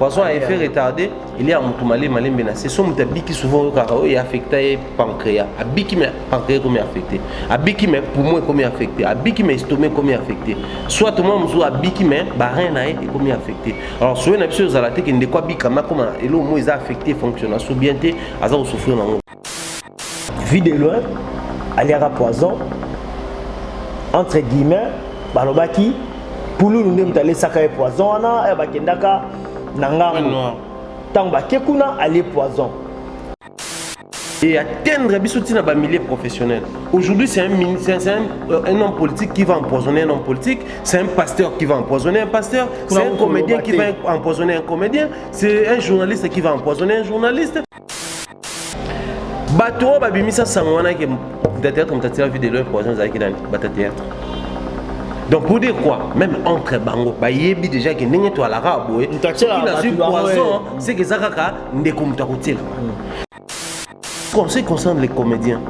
poison à effet retardé il y a mutu male malembe na se so mutu abiki souvent oyokaka oyo oh, affecta ye pancréa abiki me pancréa ekomi affecté abiki me poumon ekomi affecté abiki me estomac ekomi affecté soit mwa mosusu abiki me barin na ye ekomi affecté alors soyo na biso ezala te ke ndeko abikama akoma eloko moko eza affecté fonctionne aso bien te aza kosouffrir nango Vue de loin, aliaka poison entre guillemets balobaki pululu nde moto alesaka ye poison wana eh, bakendaka na ngambo ntango bake kuna alie poison et atteindre biso ntina bamilieu professionnel aujourd'hui c'est un, un, un, euh, un homme politique qui va empoisonner un homme politique c'est un pasteur qui va empoisonner un pasteur c'est un comédien qui va empoisonner un comédien c'est un journaliste qui va empoisonner un journaliste bato oyo babimisa sango wana ke mutateatre mutatira vie de leur poison ezalaki nani batateatre donc pour dire quoi même entre bango bayebi déjà ke ndenge toalaka boye soki nazwi poison seke eza kaka ndeko moto akotiela hmm. conseil concerne les comédiens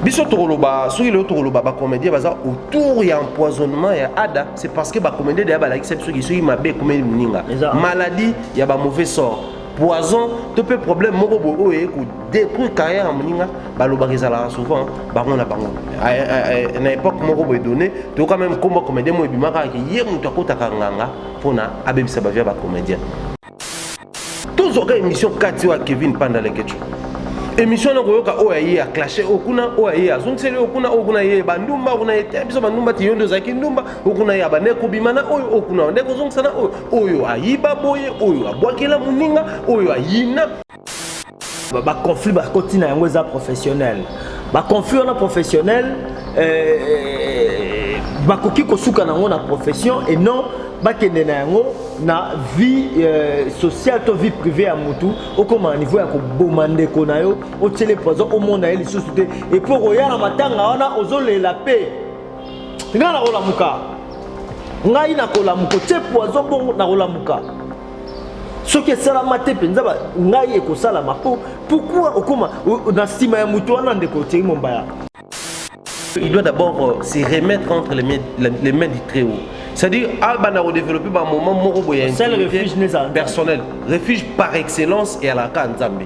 biso tokoloba soki lelo tokoloba bacomédien baza autour ya empoisonnement ya ada c'est parce que bacomédien deya balakisa biso ki soki mabe ekomeli moninga maladie ya bamauvais sort poison to mpe problème moko boye oyo eye kodétruire carrière ya moninga balobaka ezalaka souvent bango na bango ah, eh, eh, eh, na époque moko boye donné toyoka meme nkombo ya comédien moko ebimaka yake ye moto akotaka nganga mpo na abebisa bavia bacomédien tozwaka émission kati oyo ya kevin panda lekecho émission na koyoka oyo aye ya clashe oyo kuna oyo aye azongiseli oyo kuna oyo kuna ye bandumba oyo kuna ye te biso bandumba te yo nde ozalaki ndumba oyo kuna ye abaneki kobima na oyo oyo kuna ndeko ozongisa na oyo oyo ayiba boye oyo abwakela moninga oyo ayina baconflit bakoti na yango eza professionnel baconflit wana professionnel euh, euh, bakoki kosuka na yango na profession et non bakende na yango na vie euh, sociale to vie privée ya motu okoma na niveau ya koboma ndeko na yo otyele poison omona ye lisusu te epuis okoya na matanga wana ozolela mpe nga nakolamuka ngai nakolamuka otie poison bongo nakolamuka soki esalama te mpenza ngai ekosalama mpo pourkui okoma na nsima ya moto wana ndeko otiei mombaya il doit d'abord euh, se remettre entre les mains, les mains du très haut c'est-à-dire abana kodévelopper bamoment moko boye ya personnel refuge par excellence eyalaka nzambe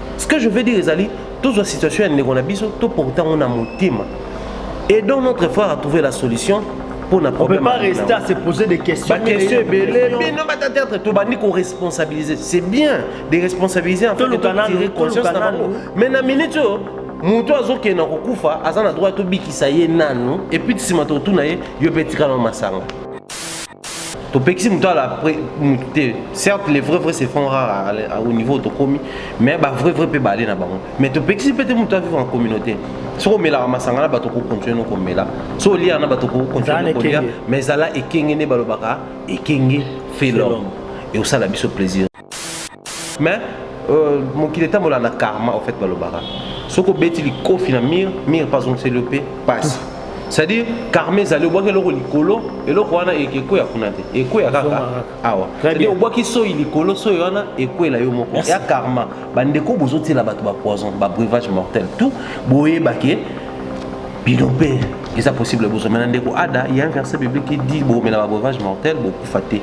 ce que je veux dire ezali tozwa situation ya ndeko na biso toporte yango na motema et donc notre frère a trouvé la solution pour na problème on peut pas rester à se poser des questions ba questions ebele bino ba théâtre to bandi ko responsabiliser c'est bien de responsabiliser en fait de tirer conscience na bango mais na minute oyo moto azokende na kokufa aza na droit tobikisa ye nanu epuis nsima tokotuna ye yo mpe etikala masanga topekisi moto ala moto te certes les vrai vrai se font rare au niveau tokomi mais ba vrai vrai mpe baale na bango mais topekisi mpe te moto avivre en communauté soki omelaka masanga na bato okokontinue nokomela so oliaka na bato okokontinue nokolia mais zala ekenge nde balobaka ekenge felom eosala biso plaisir mais euh, mokili etambola na karma au fait balobaka soki obeti likofi na mire mire pazongiseli yo mpe pasi c'est-à-dire karma ezali obwaki eloko likolo eloko wana ekweya kuna te ekweya kaka awa cetadire obwaki soyi likolo soyi wana ekwela yo moko ya karma bandeko bozotiela bato bapoison babrevage mortel tout boyebake bino mpe eza possible bozomela na ndeko ada ya un verset biblique dit bomela babrevage mortel bokufa te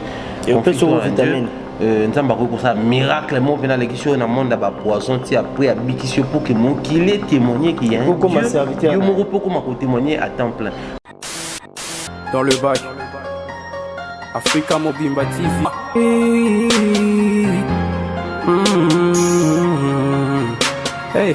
Euh, nzambe akoki kosala miracle moko mpena alekisi oyo na monde ya bapoison ti apres abikisi yo mpo ke mokili etemoigne ke ya yo moko mpo okoma kotemoigne à temps plein dans le bac afrika mobimba tv mm-hmm. hey.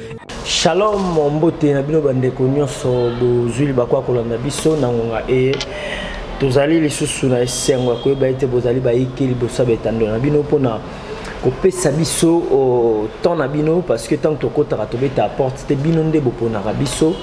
Shalom mbote na bino bandeko nyonso bozwi libaku ya kolanda biso na ngonga eye tozali lisusu na esengo ya koyeba ete bozali bayike liboso ya betando na bino mpona kopesa biso oh, temps na bino parce que ntango tokotaka tobetaka porte te bino nde boponaka biso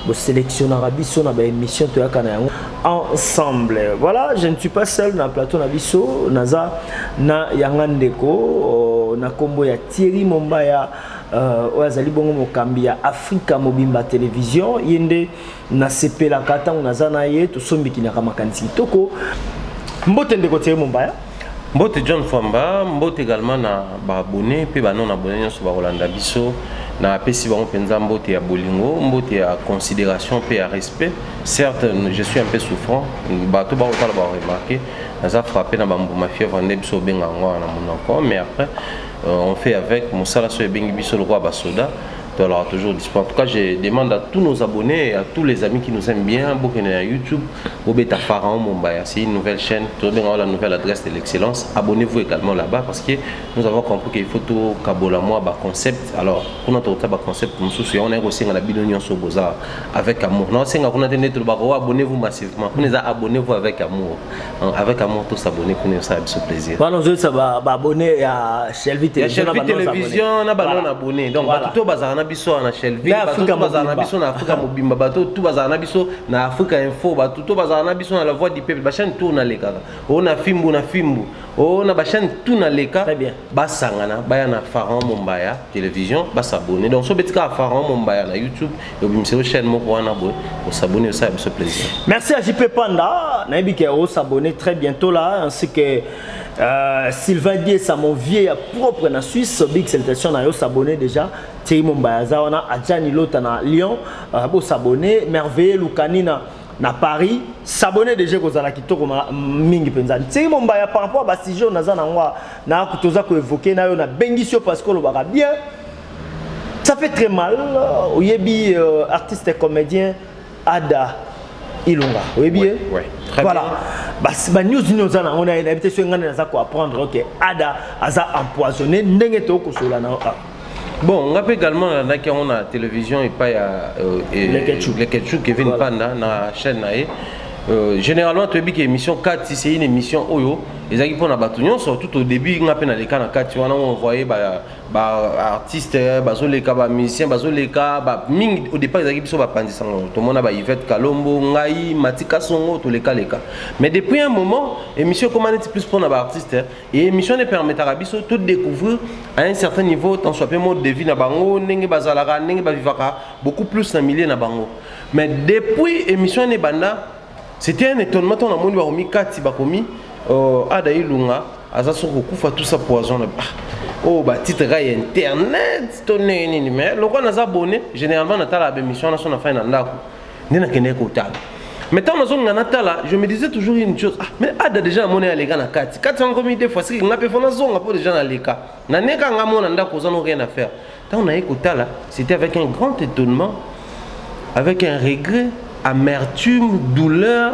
boselectionnaka biso na baémission toyaka na yango ensemble voilà je ne suis pas seul na plateau na biso naza na yanga ndeko oh, na nkombo ya thierry mombaya Euh, oyo azali bongo mokambi ya afrika mobimba televizio ye nde nasepelaka ntango naza na ye tosombikinaka makanisi kitoko mbote ndeko tiere mombaya mbote john famba mbote également na baabone mpe banon abone nyonso bakolanda biso napesi bango mpenza mbote ya bolingo mbote ya considération mpe ya respect certes je suis un peu souffrant bato bakotala baremarke naza frappe na bambuma fièvre nde biso obenga yango wana na monoko mais après Euh, on fait avec mosala soki ebengi biso lokola basoda tozalaka toujours dispo en tout cas je demande à tous nos abonnés et à tous les amis qui nous aiment bien bokende na youtube bobeta pharaon mombaya c'est une nouvelle chaîne tobenga la nouvelle adresse de l'excellence abonnez-vous également là-bas parce que nous avons compris qu'il faut tokabola mwa baconcept alors kuna tokota baconcept mosusu yango naye kosenga na bino nyonso boza avec amour naosenga kuna te nde tolobaka o oh, abonnez-vous massivement kuna eza abonnez-vous avec amour avec amour tous abonné kuna osala biso plaisir wana ozoyebisa baabonné ya shelvi télévision na banona abonné donc bato to bazala na biso na shelvi bato to bazala na biso na afrika mobimba bato to bazala na biso na afrika info bato to bazala na biso na la voix du peuple bachaine tour nalekaka o na fimbu na fimbu o na bachaine tout naleka basangana baya na pharaon mombaya télévision basabonné donc so beti kaka pharaon mombaya na youtube obimiselo chaîne moko wana boye osabone osala biso plaisir merci à jp panda nayebi ke osabone très bientôt là ainsi que euh, sylvain diesa mon vieux ya propre na suisse big salutation na yo s'abonner déjà thierry mombaya aza wana adjani lota na lyon euh, bosabone merveille lukanina na paris s'abonner déjà ekozala kitoko mingi mpenza nsei mombaya par rapport ya basujet oyo naza na yango nakuti oza koevoke na yo nabengisi yo parce que olobaka bien Ça fait très mal. Oyebi euh, artiste et comédien Ada Ilunga. Oyebi ouais, eh? ouais. Très voilà. Bien. basi banews nini oza nango na ye nayebi te soki ngai naza koapprendre oke ada aza empoisonné ndenge tokosola na ah. bon ngai mpe également nalandaki yango na télévision epai ya euh, leketchu kevin voilà. panda na chaîne na ye euh, généralement toyebi ke émission kati c'est une émission oyo ezalaki mpo na bato nyonso tout au début ngai mpe naleka na kati wana oenvoye ba artiste bazoleka ba musicien bazoleka ba mingi au départ ezalaki biso bapanzi sango tomona ba Yvette Kalombo ngai Matika Songo toleka leka mais depuis un moment émission ekoma neti plus mpona ba artiste hein. et émission ne permetaka biso to découvrir à un certain niveau tant soit peu mode de vie na bango ndenge bazalaka ndenge bavivaka beaucoup plus na milieu na bango mais depuis émission ne banda C'était un étonnement ton amoni ba komi kati ba komi euh, ada ilunga aza so kokufa tout ça poison ah, oh ba titre ga internet to nini nini mais lokola naza abonné généralement natala ba émission na so na fin na ndako nde nakendeki kotala mais ntango nazonga natala je me disais toujours une chose ah, mais ada déjà namoni aleka na kati kati yango komi deux fois siki nga mpe fo nazonga mpo déjà naleka naneka nga mona ndako oza no rien à faire Ntango naye kotala, c'était avec un grand étonnement, avec un regret, amertume, douleur,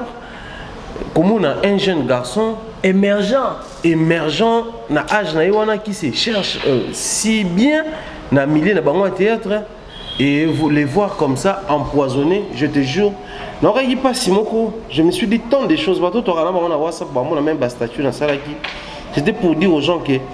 komona un jeune garçon émergent, émergent na âge na ye wana qui se cherche euh, si bien na milieu na bango ya théâtre et vous les voir comme ça empoisonné, je te jure nakokaki mpasi moko je me suis dit tant de choses bato tokana bango na whatsapp bamona même bastatut nasalaki c'était pour dire aux gens que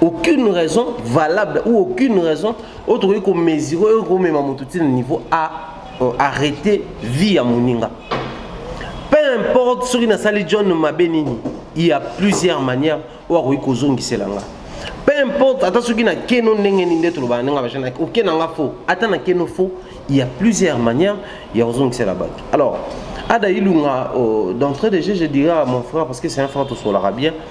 aucune raison valable ou aucune raison oyo tokoki komesure oyo komema moto ti na niveau a euh, arrete vie ya moninga peu importe soki nasali john mabe nini il y a plusieurs manières oyo akoki kozongisela nga peu importe ata soki na keno ndenge nini nde tolobana ndenge bajana oke na nga faux ata na keno faux il y a plusieurs manières ya kozongisela bato alors ada ilunga euh, d'entrée de jeu je dirais à mon frère parce que c'est un frère tosolaka bien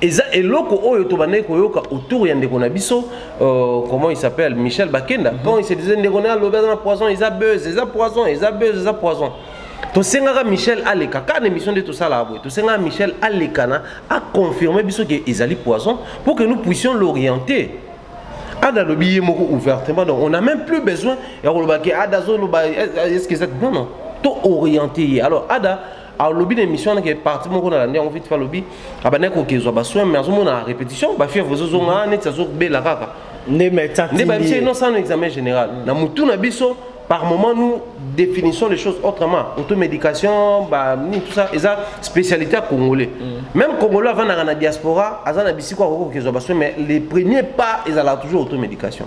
eza eloko oyo tobandaki koyoka autour ya ndeko na biso uh, comment il s'appelle michel bakenda mm -hmm. quand il se disait ndeko na alobi aza na poison eza buzz eza poison eza buzz eza poison tosengaka michel aleka kaka na émission nde tosalaka boye tosengaka michel alekana aconfirme biso ke ezali poison pour que nous puissions l'orienter ada alobi ye moko ouvertement donc on a même plus besoin ya koloba ke ada azoloba est ce que eza non non to orienter ye alors ada alobi na émission wana ke parti moko nalandi yango vite alobi abandaki kokezwa basoin mais azomona répétition bafièvre ezozonga neti azobela kaka nde babisa ino sano examen général na motu na biso par moment nous définissons les choses autrement automédication bah, tout ça eza spécialité à congolais mm. même congolais avandaka na diaspora aza na bisiko akoki kokezwa basoin mais les premiers pas ezalaka toujours automédication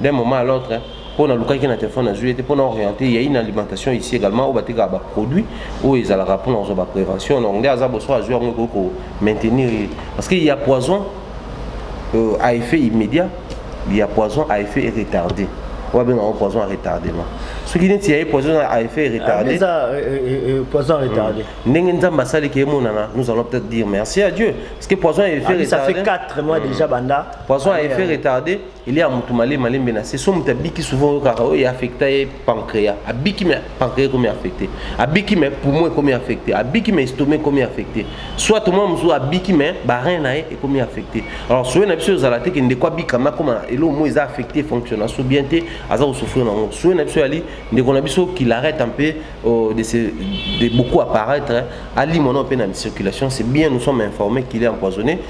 D'un moment à l'autre, mpo nalukaki na telefone nazwi ye te mpo na oriente ya une alimentation ici également oyo batekaka baproduit oyo ezalaka mpo na kozwa baprévention donc nde aza boso azwi yango ekoki komaintenir ye parce que ya poison euh, à effet immédiat ya poison à effet retardé oyo babenga yango poison à retardement soki neti ya ye poison à effet retardé ah, euh, poison retardé hmm. ndenge nzambe asaleki ye monana nous allons peut-être dire merci à dieu parce que poison à effet ah, retardé ça fait 4 mois hmm. déjà banda poison à effet retardé Elia ya mutu male malembe na se so mutu abiki souvent oyokaka oyo oh, affecta ye pancréas abiki me pancréas ekomi affecté abiki me poumon ekomi affecté abiki me estomac ekomi affecté soit mwa mosusu abiki me barin na ye ekomi affecté alors soye na biso ezala te ke ndeko abika me akoma eloko moko eza affecté fonctionne aso bien te aza kosouffrir na yango soye na biso yali ndeko na biso qu'il arrête un peu euh, de, se, de beaucoup apparaître alimo na mpe na circulation c'est bien nous sommes informés qu'il est empoisonné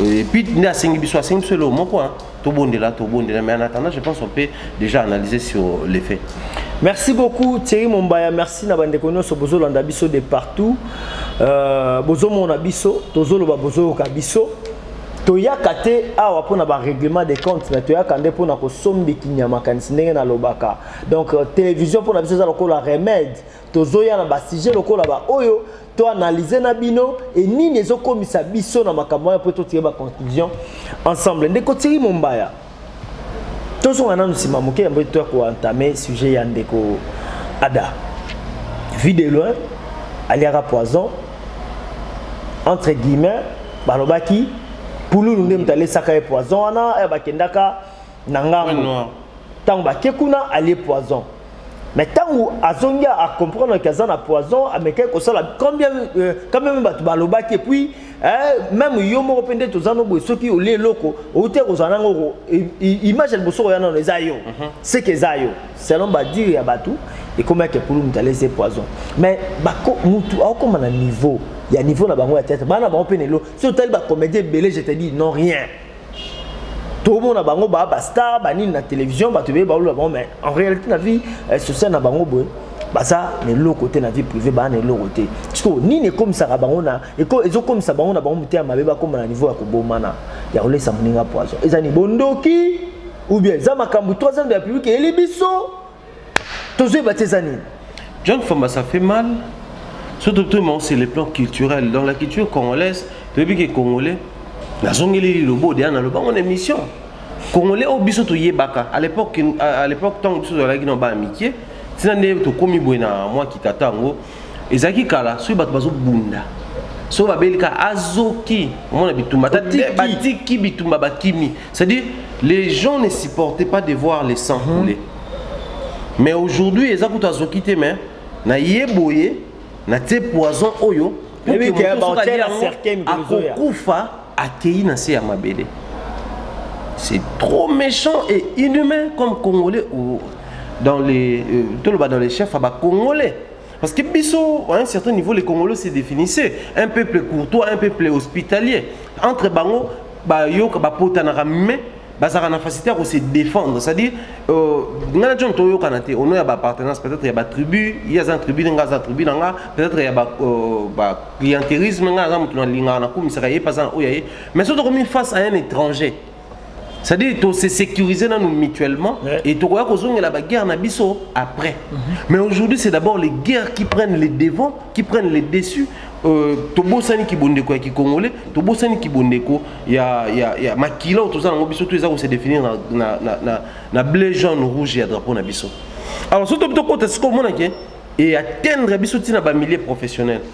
Et puis, il y a 5 bisous, 5 bisous, le mot quoi. Tout bon de là, tout bon de là. Mais en attendant, je pense qu'on peut déjà analyser sur les faits. Merci beaucoup Thierry Mombaya, merci na bande kono so bozo landa biso de partout. Euh bozo mona biso, tozo loba bozo ka biso. Toyaka te awa pona ba règlement des comptes, mais toyaka nde pona ko sombi kinyama kanisi ndenge na lobaka. Donc euh, télévision pona biso za lokola remède Tozoya na ba sujet lokola ba oyo to analyser na bino et nini ezokomisa biso na makambo wana mpo totire ba conclusion ensemble ndeko tiri mombaya tozonga nanu nsima moke yambo toya koentame sujet ya ndeko ada vue de loin aliaka poison entre guillemets balobaki pululu nde moto alesaka ye poison wana eh, bakendaka na ngambo ntango bake kuna alie poison mais ntango azongi acomprendre ke aza na poison amekaki kosala combien euh, quand même bato balobaki epuis eh, meme yo moko mpe nde toza no boye soki olie eloko outi kozala nango image ya liboso koya nano eza yo mhm. seke eza yo selon badire ya bato ekomaki ekulu moto alese poison mais motu akokoma na niveau ya niveau na bango ya tete bana bango mpe nelo soki otali bacomédien ebele je te dis non rien tomona bango ba ba star ba nini na télévision bato beye baolola bango mais en réalité na vie eh, sociale na bango boye baza na eloko te na vie privée baa na eloko te sikoyo nini ekomisaka bango na ezokomisa bango na bango motema mabe bakóma na niveau ya kobomana ya kolesa moninga poison eza ni bondoki ou bien eza makambo troisième de la publique eyeli biso tozoyeba te eza nini john famba ça fait mal surtout tout mais c'est le plan culturel dans la culture congolaise toyebi ke congolais nazongeli lilobo deya naloba ngo na émission congolais oyo biso toyebaka à l'époque à l'époque ntango biso tozalaki na bana mike ntina nde tokómi boye na mwa kitata yango ezalaki kala soki bato bazobunda soki babeli ka azoki omona bitumba batiki bitumba bakimi C'est-à-dire, les gens ne supportaient pas de voir les sangs mhm. couler. Mais aujourd'hui, ils ont azoki te mais na ye boye na tie poison oyo akokufa akei na se ya mabele. C'est trop méchant et inhumain comme Congolais ou dans les euh, dans les chefs à Congolais. Parce que Bissot, à un certain niveau, les Congolais se définissaient un peuple courtois, un peuple hospitalier. Entre Bango, Bayok, Bapotanara, mais bazalaka na facilité ya kose défendre c'est à dire euh, ngai na john toyokana te ono ya baappartenance peut-être ya batribu ye aza na tribu nanga aza tribu na nga peut-être ya baclientérisme euh, ngai aza moto nalingaka nakumisaka ye mpe aza na oyo ya ye mais soki tokomi face à un étranger c'est-à-dire to se sécuriser nanu mutuellement ouais. et tokoya kozongela ba guerre na biso après mm -hmm. mais aujourd'hui c'est d'abord les guerres qui prennent les devants qui prennent les dessus euh, tobosani kibondeko ya kikongole tobosani kibondeko ya, ya, ya makila oyo toza nango biso to eza kose définir na, na, na, na, na bleu jaune rouge ya drapeau na biso alors soki tokota sikoyo omonake e atteindre biso ntina bamilieu professionnel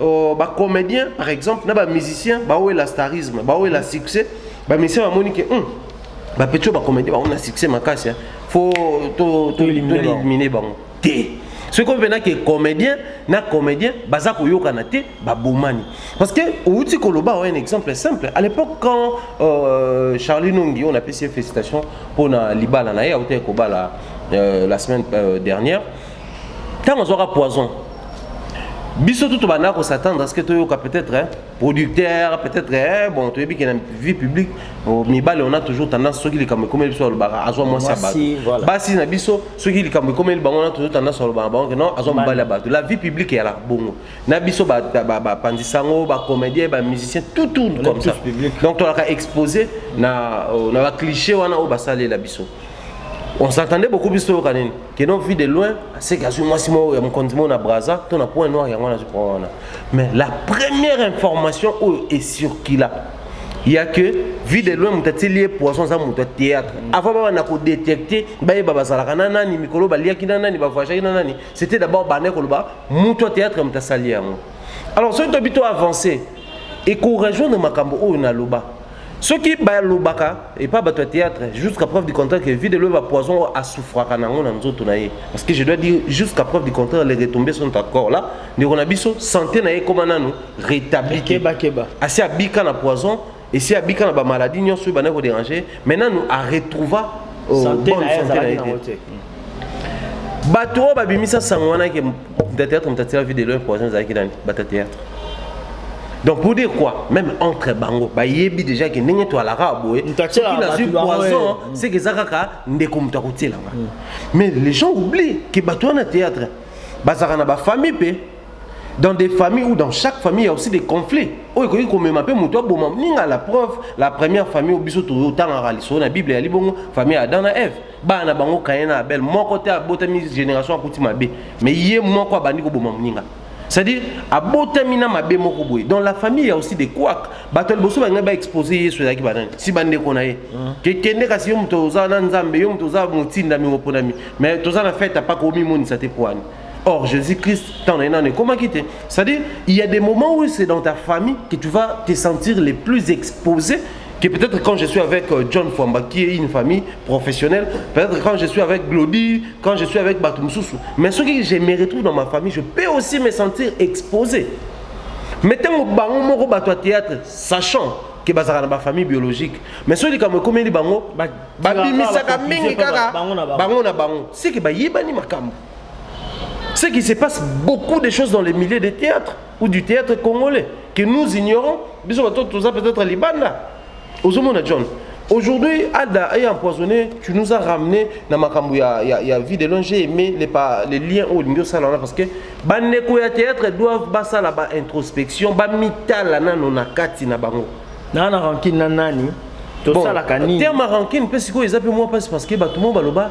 Oh, ba comédien par exemple na ba musicien bawela starisme bawela succès ba musicien bamoni ke hum, bapeti oyo bacomédien bango na succès makasi hein. fo toelimine bango te soki oyo mpena ke comédien na comédien baza koyokana te babomani parce que outi koloba oyo un exemple simple à l'époque quand euh, charlie nongi oyo napesi ye félicitation mpo na libala na ye autaki kobala euh, la semaine euh, dernière ntango azwaka poison biso tout banda kosatendre ce que toyoka peut-être hein, producteur peut-être hein, bon toyebi ke na vie publique oh, mibale on a toujours tendance soki likambo ekomeli biso alobaka azwa mwasi ya bato basi na biso soki likambo ekomeli bango on a toujours tendance alobaka bango ke non azwa mobali ya bato la vie publique eyalaka bongo na biso bapanzisa yango bacomédien bamusicien tout tourne comme ça donc tolaka exposé na, euh, na bacliché wana oyo basalela biso on s'entendait beaucoup biso toyoka nini que non vu de loin aseki azwi mwasi moko ya mokonzi moko na braza to na point noir yango nazwi mpo wana mais la première information oyo ecircula ya que vie de loin moto atili ye poison aza moto ya théâtre mm. avant baba na kodetecte bayeba bazalaka na nani mikolo baliaki na nani bavoyagaki na nani c'était d'abord bande koloba moto ya théâtre moto asali yango alors soki tobi to avance ekorejoindre makambo oyo naloba soki balobaka epa bato ya théâtre jusqu'à preuve du contraire que vide loyeba poison oyo asufraka nango na nzoto na ye parce que je dois dire jusqu'à preuve du contraire les retombées sont encore là ndeko na biso santé na ye ekoma nanu rétabli te asi abika na poison esi abika na bamaladie nyonso oyo bandaki koderange mais nanu aretrouva euh, bonne santé na ye te bato oyo babimisa sango wana ke mutateatre mutatela vie de loin poison ezalaki nani batateatre donc pour dire quoi même entre bango bayebi déjà ke ndenge toalaka boye soki nazwi poison seke eza kaka ndeko moto akotielanga mm. mais les gens oublient ke bato wana théâtre bazalaka na bafamille mpe dans des familles ou dans chaque famille il y a aussi des conflits oyo ekoki komema mpe moto aboma ninga la preuve la première famille oyo biso totangaka lisolo na bible eyali bongo famille ya adam na eve bana na bango kaye na abel moko te abotami génération akuti mabe mais ye moko abandi koboma moninga c'est-à-dire abotami na mabe moko boye donc la famille ya aussi de quak bato ya liboso balingai baexpose yesu ezalaki banani si bandeko na ye kekende kasi yo moto oza na nzambe yo moto oza motindami moponami mais toza na fete apaka omimonisa te poani Or, Jésus-Christ, t'en es non, comment quitter C'est-à-dire, il y a des moments où c'est dans ta famille que tu vas te sentir les plus exposé que peut-être quand je suis avec euh, John Fwamba, qui est une famille professionnelle, peut-être quand je suis avec Glody, quand je suis avec Batumsusu, mais ce que je me retrouve dans ma famille, je peux aussi me sentir exposé. Mettez mon bango moko bato théâtre, sachant que bazaka na ba famille biologique. Mais ceux qui comme comme les bango, babimisaka mingi kaka bango na bango. C'est que ba yebani makambo. C'est qui se passe beaucoup de choses dans les milieux de théâtre. ou du théâtre congolais que nous ignorons biso bato toza peut-être libanda ozomona john aujourd'hui ada est empoisonné tu nous as ramené na makambo ya, ya, ya vie de long j'ai aimé les, pa, les liens oyo olingi osala wana parce que bandeko ya théâtre doivent basala ba introspection bamitala nano na kati na bango naa na rankine na nani tosalaka nini terme rankine mpe sikoyo eza mpe mwa mpasi parce que bato mo baloba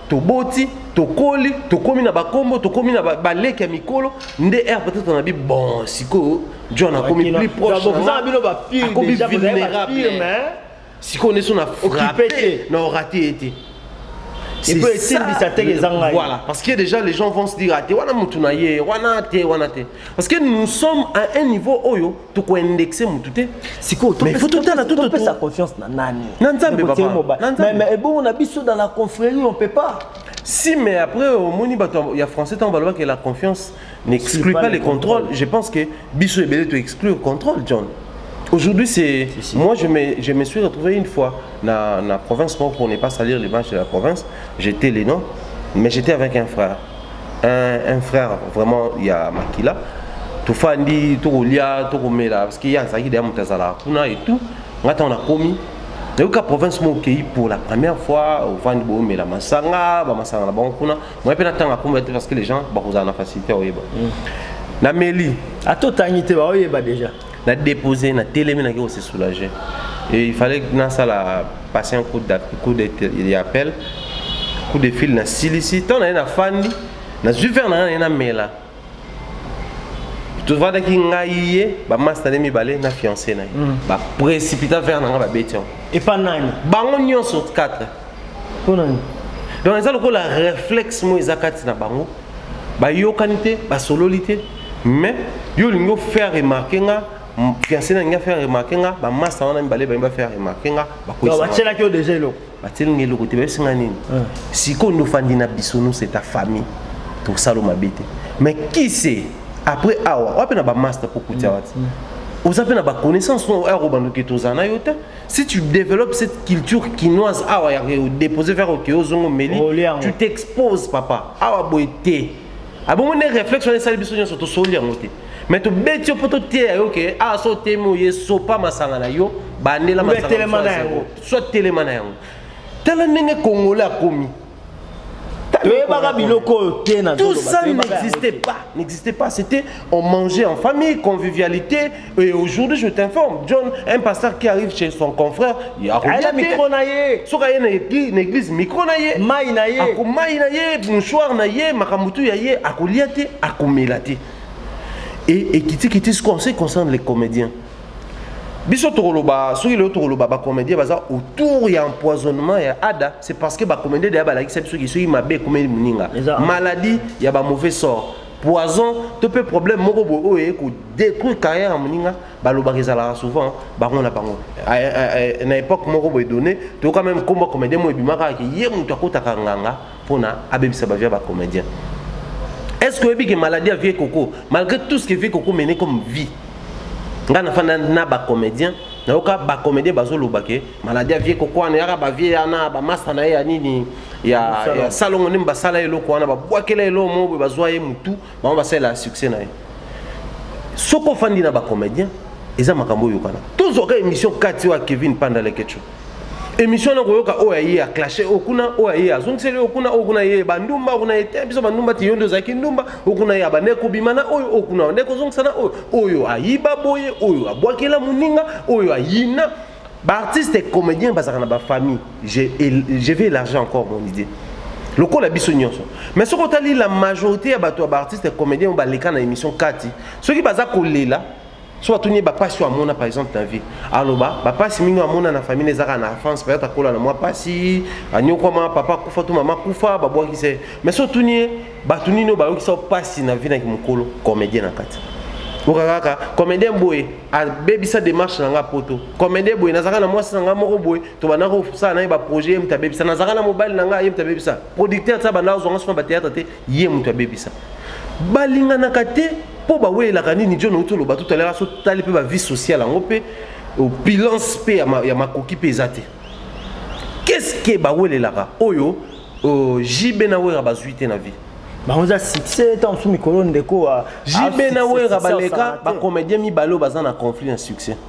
toboti tokoli tokomi na bakombo tokomi na baleki ya mikolo nde r peut-être na bi bon sikoyo john akomi plus proche akomi vulnérable sikoyo nde so na frappe na orate ye te C'est ça. Voilà, parce que déjà les gens vont se dire, ah, wana mutu na ye, wana te, wana te. Parce que nous sommes à un niveau oyo toko indexe mutu te sikoyo topesa confiance na nani na nzambe mais ebongo na biso dans la confrérie on peut pas si mais après omoni bato ya français ntango balobaki la confiance n'exclut pas les contrôles je pense que biso ebele to exclure contrôle john Aujourd'hui, c'est. Si, si. Moi, je me, je me suis retrouvé une fois dans la province, pour ne pas salir l'image de la province, j'étais les noms, mais j'étais avec un frère. un, un frère vraiment ya makila tofandi tokolia tokomela parce que ye azalaki deya moto azalaka kuna et tout ngai ntango nakomi nayoka province moko okei pour la première fois ovandi boomela masanga bamasanga na bango kuna moye mpe natanga komela te parce que les gens bakozala na facilité oyeba mm. nameli ata otangi te baoyeba déjà na dépose na telemi na ko se soulager et il fallait na sala passer un coup de coup de appel coup de fil na silisi tant na na fandi na zui vers na na mela tofandaki ngai ye bamasta nde mibale na fiance na ye mm. baprécipita vers na ngai babeti yango epa nani bango nyonso 4 mpo na nini donc eza lokola reflexe moko eza kati na bango bayokani te basololi te mais yo olingi ofaire remarke nga fiancé na ngai afaire remarke nga bamasta wana mibale balingi bafaire remarke nga bakoisabatyelaki yo deja eloko batyeli nga eloko te bayebisi nga nini ah. sikoyo nde ofandi na biso no c'est ta famille tosalo mabe te mais kise après awa wapi na bamasta mpo kutia wati mm, mm. oza mpe na baconnaissance oyo akobandoki tozala na yo te si tu développes cette culture kinoise awa ya déposer vers oke ozongo meli tu t'exposes papa awa boye te abongo nde réflexe wana esali biso nyonso tosoli yango te mais tobeti yo mpo toteya yo ke awa so otemi oye sopa masanga na yo bandela masanga soit telema na yango tala ndenge congolais akomi toyebaka biloko oyo te na tout ça n'existait pas n'existait pas c'était on mangeait en famille convivialité et aujourd'hui je t'informe John un pasteur qui arrive chez son confrère il a rien micro na ye soki aye na église na église micro na ye mai na ye ako mai na ye mouchoir na ye makambo tu ya ye akolia te akomela te et et kiti kiti ce qu'on sait concerne les comédiens biso tokoloba soki lelo tokoloba bacomédien baza autour ya empoisonnement ya ada c'est parce que bacomédien deya balakisa biso ki soki mabe ekomeli moninga maladie ya bamauvais sort poison to mpe problème moko boye oyo eye kodétruire carrière ya moninga balobaka ezalaka souvent bango na bango na époque moko boye donné toyoka meme nkombo ya comédien moko ebimaka ye moto akotaka nganga pona abebisa ba vie ya ba comedien est ce que oyebi ke maladie ya vie koko malgré tout ce que vie koko mene comme vie ngai nafanda na ba comedien nayoka ba comedien bazoloba ke maladie ya vie koko wana yaka ba vie yana ba masta na ye ya nini ya, ya salongo nde basala eloko wana babwakela eloko moko boye bazwa ye mutu bango basalela succès na ye soki ofandi na ba comedien eza makambo oyokana tozwaka émission kati oyo ya kevin panda lekecho émission na koyoka oyo aye ya clashe oyo kuna oyo aye azongiseli oyo kuna oyo kuna ye bandumba kuna ye te biso bandumba ti yo nde ozalaki ndumba oyo kuna ye abandaki kobima na oyo oyo kuna nde kozongisa na oyo oyo ayiba boye oyo abwakela moninga oyo ayina baartiste et comédien bazalaka na bafamille je vais élargir encore mon idée lokola biso nyonso mais soki otali la majorité ya bato ya baartiste et comédien oyo baleka na émission kati soki baza kolela so atuni ye bapasi oyo amona par exemple na vie aloba bapasi mingi oyo amona na famille ezaka na france peut-être akola na mwa pasi anyokwama papa akufa to mama akufa babwakisa ye mais so otuni ye bato nini oyo bayokisa pasi na vie na kimokolo comédien na kati oka kaka comédien boye abebisa démarche na ngai poto comédien boye nazalaka na mwasi na ngai moko boye tobanda kosala na ye baprojet ye moto abebisa nazalaka na mobali na ngai ye moto abebisa producteur ti abanda kozwa ngai sona bateatre te ye moto abebisa balinganaka te mpo bawelelaka nini john outi oloba totalaka so tali mpe bavie sociale yango mpe opulence mpe ya makoki mpe eza te keske bawelelaka oyo euh, jb na wera bazwi te na vie bango eza succès ntango mosusu mikolo ndeko jb na wera baleka bacomédien mibale oyo baza na conflit ya succès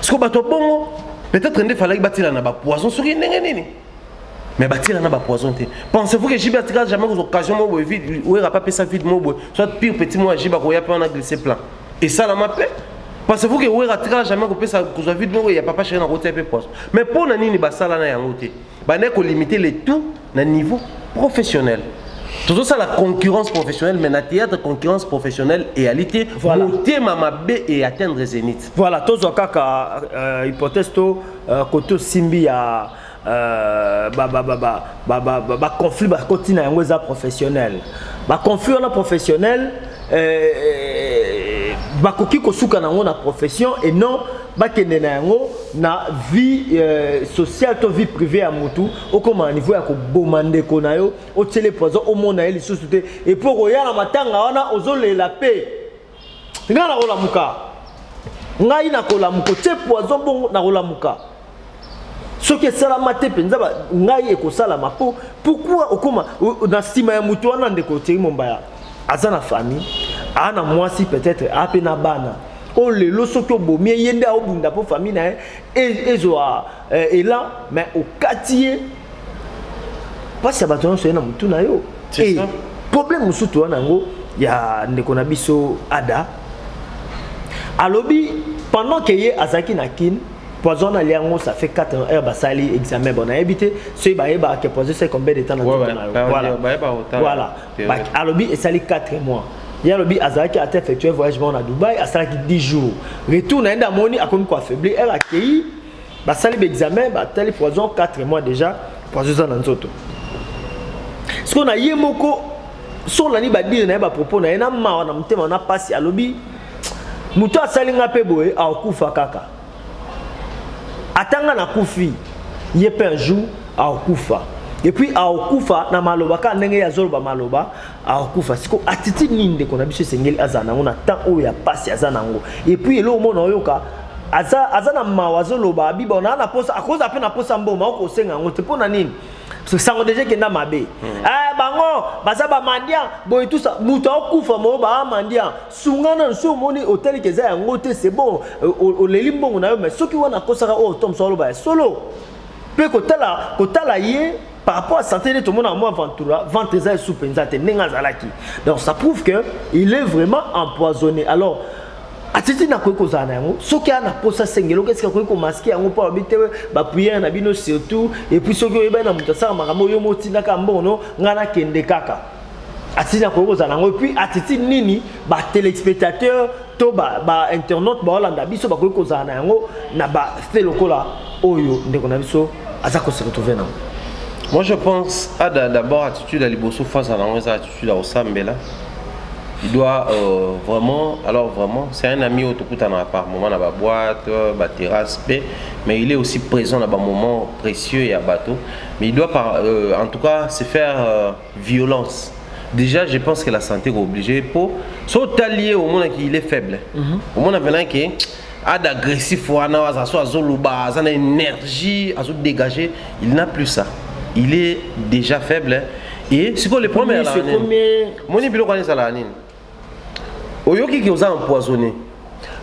siko bato ya bongo peut-être nde falaki batila na bapoison soki ndenge nini mais batila na bapoison te pensez-vous que jibe atikala jamais kozwa occasion moko boye vide oyera pa pesa vide moko boye soit pire petit moko ya jibe akoya mpe wana glisse plan esalama mpe parce que oyera atikala jamais kopesa kozwa vide moko ya papa sheri na kotia mpe poison mais mpo na nini basala na yango te Bandaki ko limiter le tout na niveau professionnel. tozosala concurrence professionnelle mais na théâtre concurrence professionnelle eyali te voilà. motema mabe e atteindre zénith voilà tozwa kaka euh, hypothèse to euh, kote osimbi ya euh, baconflit bakoti na yango eza professionnel baconflit wana professionnel euh, euh, bakoki kosuka na yango na profession et non bakende na yango na vie euh, sociale to vie privée ya mutu okoma na niveau ya koboma ndeko na yo otyele poison omona ye lisusu te epuis okoya na matanga wana ozolela mpe ngai nakolamuka ngai nakolamuka otye poison bongo nakolamuka soki esalama te mpenza ngai ekosalama mpo pourkua okoma na nsima ya moto wana ndeko otiri mombaya aza na famille aa na mwasi peut-être aa mpe na bana oyo lelo soki obomi ye nde aobunda mpo famille na ye e, ezwa eh, elan mais okati ye mpasi ya bato nyonso ye na motu na yo e problème mosusu toza na yango ya ndeko na biso ada alobi pendant ke ye azalaki na kine poison na liango ça fait 4 ans heure basali examen bon nayebi te soki bayebaka ke poison esali combien de temps na nzoto na yo voilà voilà alobi esali 4 mois ye alobi azalaki ata effectue voyage moko na dubai asalaki 10 jours retour na ye nde amoni akomi koaffaibli heure akei basali baexamen batali poison 4 mois déjà poison eza na nzoto sikoyo na ye moko so olandi badire na ye bapropos na ye na mawa na motema na mpasi alobi moto asali nga mpe boye akokufa kaka ata nga nakufi ye mpe un jour akokufa epuis akokufa na maloba kaka ndenge ye azoloba maloba akokufa siko attitude nini ndeko na biso esengeli azala nango na temps oyo ya mpasi aza nango epuis eloko mona oyoka aza, aza na mawa azoloba abiba naa na posa akozala mpe na posa mboma okosenga yango te mpo na nini sango deja ekenda mabe hmm. eh, bango baza bamandian boye tusa moto akokufa moo baamandian sunga nanu soki omoni otali ke eza yango te c'est bon oleli mbongo na yo mais soki wana akosaka oyo tom so aloba ya solo mpe kotala kotala ye par rapport à santé nde tomona mwa ventura ventre eza esu mpenza te ndenge azalaki donc ça prouve que il est vraiment empoisonné alors atiti nakoki kozala na yango soki aa na mposa sengeloko esika akoki komaske yango mpo alobi te bapriere na bino surtout epuis soki oyebani na moto asaka makambo yo motindaka mbongo no ngai nakende kaka attitude akoki kozala nango epuis attitude nini batelespectateur to bainternaute ba baolanda biso bakoki kozala na yango na bafe lokola oyo ndeko na biso aza kose retrouve nango moi je pense ada d'abord attitude ya liboso fo azala nango eza attitude ya kosambela il doit euh, vraiment, alors vraiment, c'est un ami autokutana par moment dans la boîte, la terrasse, mais il est aussi présent dans un moment précieux et à bateau. Mais il doit, par, euh, en tout cas, se faire euh, violence déjà je pense que la santé est obligée pour so talier au monde qui il est faible mm -hmm. au monde maintenant que a d'agressif wana aza so azoloba aza na énergie azo dégager il n'a plus ça il est déjà faible et sikoyo le problème ezala nini moni biloko wana ezalaka nini oyoki ke oza empoisonné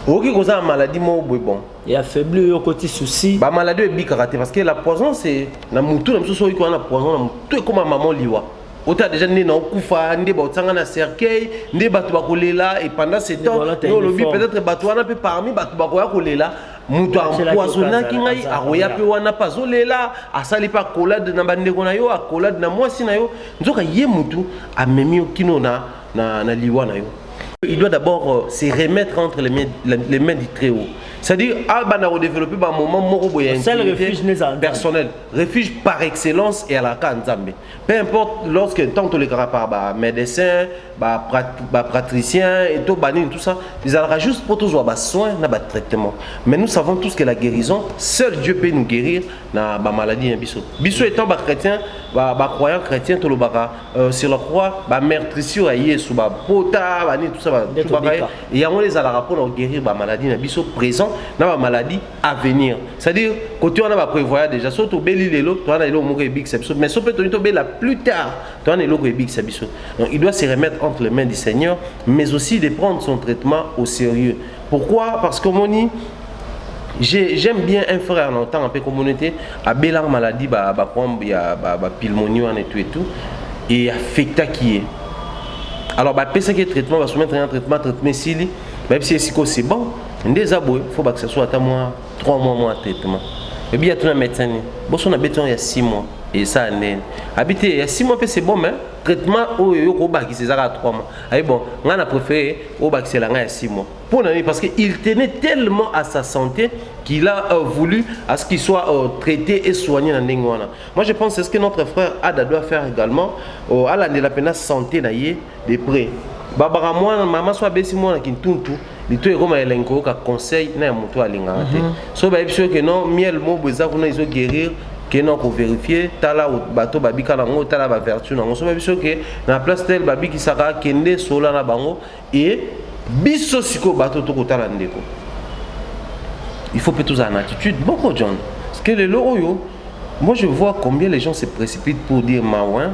oyoki koza na maladie moko boye bon ya faibli oyo okoti souci bamaladie oyo ebikaka te parce que la poison c'est na motu na biso soki oyoki wana poison na motu ekóma mama liwa ota deja nde na okufa nde baotianga na cercueil nde bato bakolela et pendant ce temps yo olobi peut-être bato wana mpe parmi bato bakoya kolela moto ampoisonaki ngai akoya mpe wana mpe azolela asali mpe akolade na bandeko na yo akolade na mwasi na yo nzoka ye motu amemi yo kino na na, na liwa na yo il doit d'abord euh, se remettre entre les mains, les mains du très haut c'est-à-dire abana ah, kodévelopper ba moment moko boye personnel refuge par excellence et à la cas nzambe peu importe lorsque tant que les par ba médecin ba, prat, ba pratricien et tout banine tout ça ils allaient juste pour tous avoir soin na ba traitement mais nous savons tous que la guérison seul Dieu peut nous guérir na ba maladie hein, biso biso étant ba chrétien ba, ba croyant chrétien tolobaka Euh, sur la croix bamertrisio ya yesu bapota banini tout ça batubaka ye yango nde ezalaka mpona koguérir bamaladi na biso présent na bamaladi avenir c'est à dire kote wana baprévoya déjà so tobeli lelo toza na eloko moko ebikisa biso mais so mpe toni tobela plus tard toza na eloko ebikisa biso donc il doit se remettre entre les mains du seigneur mais aussi de prendre son traitement au sérieux Pourquoi Parce que moni j'aime bien un frère na otanga mpe komona te abelaka maladie baproblème ba, ya bapilmonie ba wana etu etu e affectaki ye alors bapesaki ye traitement basomettre ya traitement traitement esili bayebisi ye sikoyo c'est bon nde eza boye fo bakisa so ata mwa 3 mois mwa traitement ebi ya tuna médecin nini boso na beti yango ya 6 mois esala ndeni abi te ya 6 mois mpe c'est bon mais traitement oyo yo kobakisa eza kaka 3 mois Aïe bon, nga na préféré au bakisela nga ya 6 mois. Pour nani parce que il tenait tellement à sa santé qu'il a euh, voulu à ce qu'il soit euh, traité et soigné dans ndenge wana. Moi je pense c'est ce que notre frère Ada doit faire également euh, à la de la peine santé na ye de près. Babara mwana mama soit besi mwana kintuntu litoyi ekoma elengi koyoka conseil na ya moto alingaka te mhm. so bayebi soki ke non miel mobo eza kuna ezo guérir kende oko vérifier tala bato babika na yango tala bavertu na yango so bayebi soki na place tel babikisaka kende sola na bango e biso sikoyo bato tokotala ndeko il faut mpe tozala na attitude boko john parce que lelo oyo Moi je vois combien les gens se précipitent pour dire Maouin.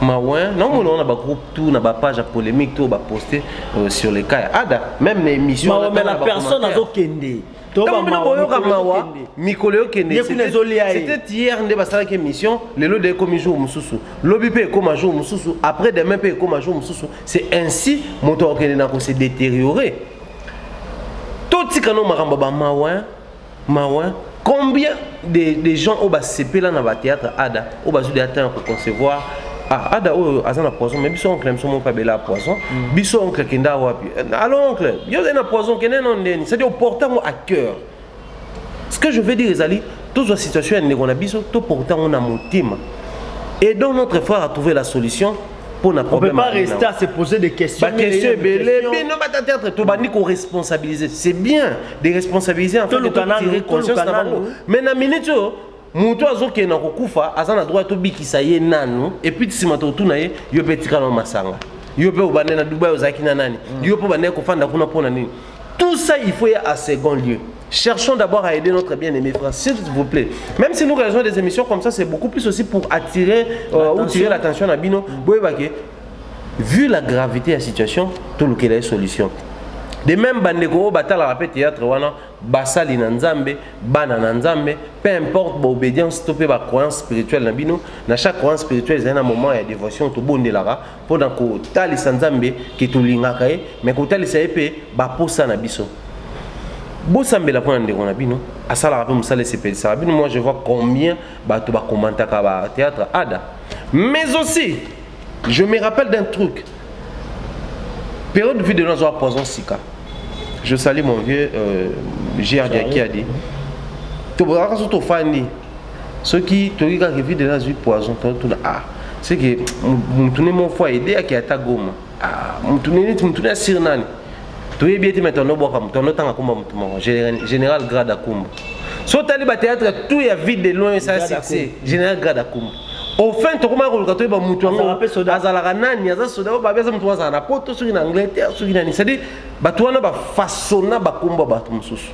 Maouin, non, mon on a ba groupe tout, on a ba page à polémique tout, on a posté euh, sur les cas. Ada, même les émissions. Maouin, mais la personne a kende. ntango bino boyoka mawa mikolo yokende c'était hier nde basalaki émission lelo de ekomi jour mosusu lobi mpe ekoma jour mosusu après demain mpe ekoma jour mosusu c'est ainsi moto akokende na kose détériorer totika no makambo ya bamawa mawa combien de, de gens oyo basepela na batheatre ada oyo bazwi deya temps ya koconcevoir ah, ada oyo aza na poison mais biso oncle biso moko abela poison mm. biso oncle kenda wapi alo oncle yo ozali na poison kende no ndeni c'est-à-dire oporte yango à cœur ce que je veux dire ezali tozwa situation ya ndeko na biso toporte yango na motema aidons notre frère à trouver la solution mpo na problème pas rester à se poser des questions bakestion ebele bino batateatre tobandi koresponsabilise c'est bien de responsabiliser enfantire conscience na bango mais na minute oyo moto azokende na kokufa aza na droit tobikisa ye nanu epuis nsima tokotuna ye yo mpe etikala na masanga yo mpe obande na dubai ozalaki na nani mm. yo mpe obandaki kofanda kuna mpo na nini tout ça il faut ya a second lieu Cherchons d'abord à aider notre bien-aimé frère, s'il vous plaît. Même si nous réalisons des émissions comme ça, c'est beaucoup plus aussi pour attirer euh, ou tirer l'attention à Bino. Vu la gravité de la situation, tout le est solution. De même, bandeko oyo batalaka mpe théâtre wana basali na nzambe bana na nzambe peu importe baobédience to mpe bacroyance spirituelle na bino na chaque croyance spirituelle ezali na moment ya dévotion tobondelaka mpo na kotalisa nzambe ke tolingaka ye me kotalisa ye mpe baposa na biso bosambela mpo na ndeko na bino asalaka mpe mosala esepelisaka bino moi je vois combien bato bakomantaka ba théâtre ada mais aussi je me rappelle d'un truc période vie de nos azwa poison sika je salue mon vieux euh, grd qui a dit tobozalaka so tofandi soki toyoki kaka vide na azwi poison totuna a ah, seke motu ne mo fois ede ake ata goma ah, motu ne neti motu ne asiri nani toyebi ete mete anobwaka motu anotanga kumba motu moko général grade akumba so otali bateatre tout ya vide de loin esa succès général grade akumba au fin tokomaka koluka toyeba motu yango azalaka nani aza soda oyo babi aza motu azala na poto soki na angleterre soki nani c'est à dire bato wana bafasona bakumba bato mosusu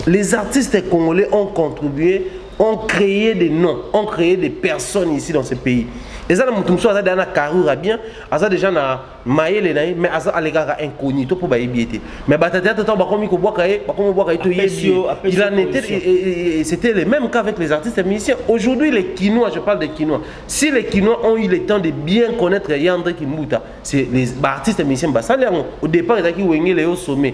Les artistes congolais ont contribué, ont créé des noms, ont créé des personnes ici dans ce pays. Et ça, mutu mosusu aza deja na carrure bien aza deja na mayele na ye mais aza alekaka inconnu to mpo bayebi ye te mais batateatre ntango bakomi kobwaka ye bakomi bwaka ye toyebi ye il en était c'était le même cas avec les artistes et musiciens aujourd'hui les kinois je parle des kinois si les kinois ont eu le temps de bien connaître yandre kimbuta c'est les baartistes et musiciens basali yango au départ ezalaki wengele yo sommet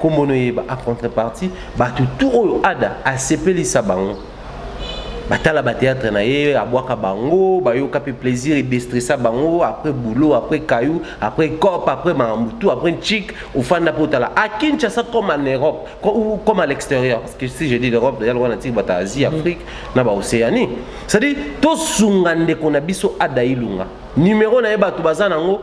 kombo no yeba a contrepartie bato tout oyo ada asepelisa bango batala bateatre na ye abwaka bango bayoka mpe plaisir edestressa bango après boulot après caillou après cop après makambo tout après nchik ofanda mpo otala a kinshasa comme en europe comme à l'extérieur parce que si je dis l'europe deja lokola natiki bato asie mm. afrique na baocéanie c'est-à-dire tosunga ndeko na biso ada ilunga numero na ye bato baza nango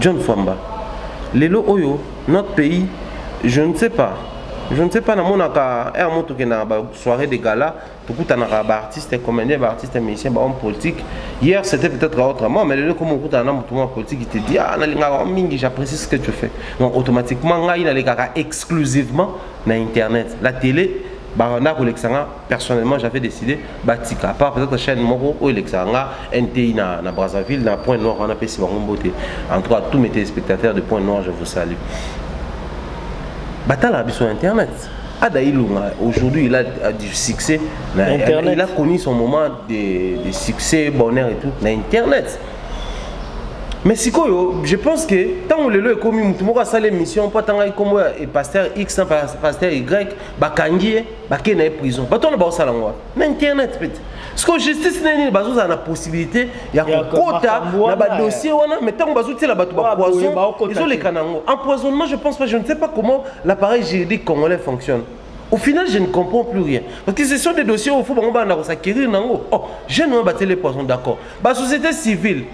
John Famba lelo oyo notre pays je ne sais pas je ne sais pas namonaka er mo tokendaka ba soirée de gala tokutanaka ba artiste comédien ba artiste musicien ba homme politique hier c'était peut-être autrement mais lelo ekomi okutana na motu mwa politique il te dit ah nalingaka yo mingi j'apprécie ce que tu fais donc automatiquement ngai nalekaka exclusivement na internet la télé banda kolekisa nga personnellement j'avais décidé batika part peut-être chaîne moko oyo elekisaka nga nti na, na brazzaville na point noir wana apesi bango mbote en tout cas tous mes téléspectateurs de point noir je vous salue batalaka biso na internet Ada Ilunga, aujourd'hui, il a, a, du succès. Internet. Il a connu son moment de, de succès, bonheur et tout, na Internet. mais sikoyo je pense que ntango lelo ekomi motu moko asala émission mpo atangaki nkombo ya pasteur x na pasteur y bakangi ye bakei na ye prison bato wana baosala yango na internet peut siko justice na nini bazozala na possibilité ya kokota na badossier wana mais ntango bazotiela bato bapoison ezoleka na yango empoisonnement je pense pas je ne sais pas comment l'appareil juridique congolais fonctionne au final je ne comprends plus rien parce que ce sont des dossiers oyo fo bango bana kosakerir na yango oh jeune wana batiele poison d'accord basociété civile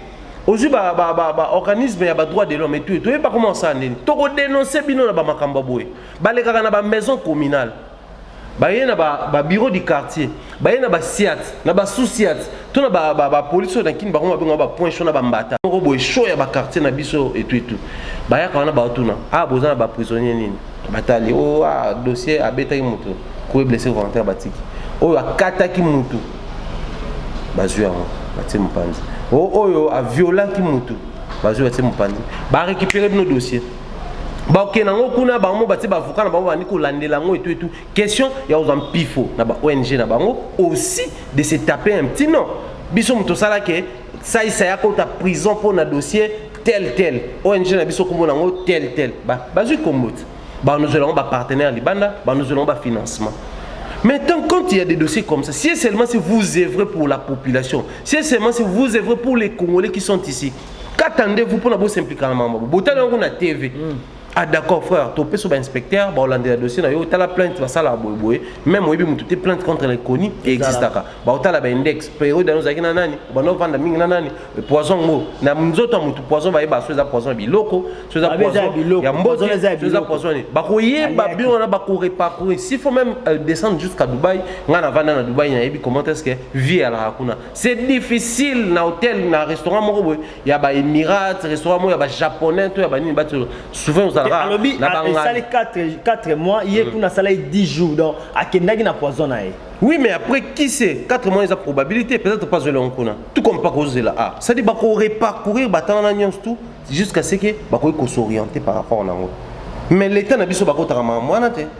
ozwi baorganisme ya badroit de l'homme etu toyeba koma osala nini tokodénonce bino na bamakambo ya boye balekaka na ba maison communale baye na ba, ba bureau du quartier baye na ba siat na ba sous siat to na ba, ba, ba police na kini bango babenga ba point chaud na ba mbata moko boye chaud ya ba quartier na biso etu etu bayaka wana baotuna a ah, boza na ba prisonnier nini batali o oh, ah, dossier abetaki moto koye blessé volontaire batiki oyo akataki motu bazwi yango batie mopanzi o oh, oyo aviolaki motu bazwi batie mopanzi barécupere bino dossier bakokende yango kuna bango batie baavoka na bango bandi kolandela yango etu etu question ya kozwa mpifo na ba ong na bango aussi de se taper un petit nom biso moto osalaki saisa ya kota prison mpo na dossier tel tel ong na biso nkombo na yango tel tel bazwi nkombo te banozwela yango bapartenaire libanda banozwela yango bafinancement Maintenant, quand il y a des dossiers comme ça, si seulement si vous œuvrez pour la population, si seulement si vous œuvrez pour les Congolais qui sont ici, kata ndevu mpona bosimplika na mambo botali yango na tv mm. ah d'accord frère topesa bainspecteur baolandela dossier na yo tala plainte basalaka boyeboye meme oyebi motu te plainte contre l'inconnu existaka baotala baindex periode yango ozalaki na nani obanda ovanda mingi na nani poison yango na nzoto ya motu poison bayeba so eza poison ya biloko so eza poison ya mbote so eza poison nini bakoyeba bino wana bakoreparcourir s'il faut même euh, descendre jusqu'à dubaï ngai navanda na dubaï nayebi comment est ce que vie alaka kuna c'est difficile na hôtel na restaurant moko boye ya ba Emirates restaurant moko ya ba japonais to ya ba nini ba souvent ozalaka alobi na banga esali 4 4 mois ye mm. kuna sala 10 jours donc akendaki na poison na ye oui mais après qui sait 4 mois eza probabilité peut-être pas zela kuna tout comme pas kozela ah ça dit ba ko reparcourir batana na nyonso tout jusqu'à ce que ba ko s'orienter par rapport na ngo mais l'état na biso ba ko tara mwana te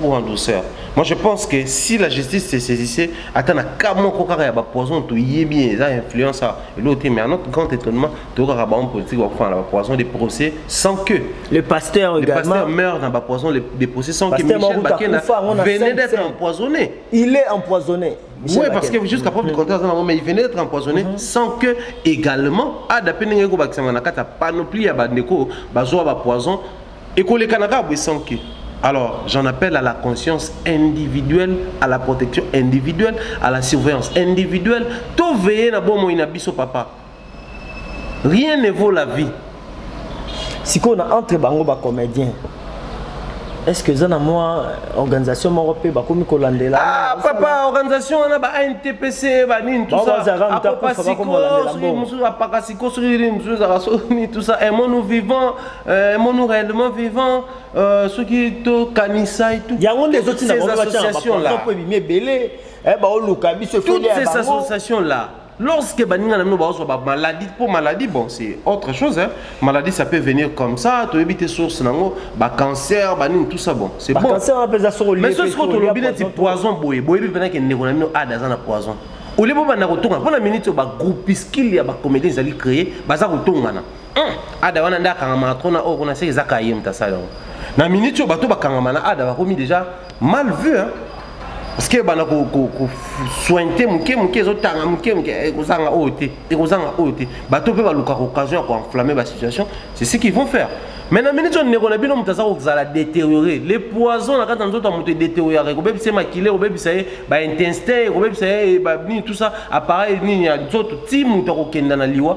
ou en douceur moi je pense que si la justice se saisissait ata na cas moko kaka ya bapoison toyebi eza influence a eloo te mais à notre grand étonnement tokaka bango politique bakofana na bapoison des procès sans que le pasteur le pasteur meurt na bapoison des procès sans que michel bakena venait d'être empoisonné il est empoisonné Michel oui, parce que jusqu'à preuve du contraire, mais il venait d'être empoisonné mm -hmm. sans que également, à d'après Nengo Baksama Nakata, panoplie à Bandeko, Bazoa Bapoison, ekolekana kaka boye sans que Alors, j'en appelle à la conscience individuelle, à la protection individuelle, à la surveillance individuelle. Tout veiller na bon moyen biso papa. Rien ne vaut la vie. Si on a entre bango ba comédien. Est-ce que ça na moi organisation moko pe ba komi ko landela Ah papa organisation on a ba NTPC ba nini tout ça. Ba ba ko ko landela. Musu apaka siko sur nini musu za so ni tout ça. Et mon nous vivant Euh, mon réellement vivant euh, soki tokanisai yango nde ezotinda bango batyana bapo ebimi ebele eh, baoluka biso toutes ces associations là lorsque baninga na bino bazwa bamaladi mpo maladie bon c'est autre chose hein. maladie ça peut venir comme ça toyebi te source nango bacancer banini tout ça bon c'est bon mais soki sikoyo tolobi neti poison boye boyebi mpena ke ndeko na bino ada aza na poison olie bo banda kotongana mpo na miniti oyo bagroupiskile ya bacomédien ezali créé baza kotongana Hum, ada wana nde akangamaka trop na oyo kuna seke eza kaye moto asala yango na miniti oyo bato bakangama na ada bakomi déjà mal vu hein? parce que ebanda kosointe moke moke ezotanga moke moke eh, ekozanga oyo te ekozanga oyo te bato mpe balukaka occasion ya koenflamme basituation c'est ce qu'ils vont faire mais na miniti oyo ndeko na bino moto aza kozala détérioré le poison na kati ya nzoto ya moto edétérioraka ekobebisa ye makila ekobebisa ye baintestin ekobebisa ye eh, nini tout ça appareil nini ya nzoto ti moto akokenda na liwa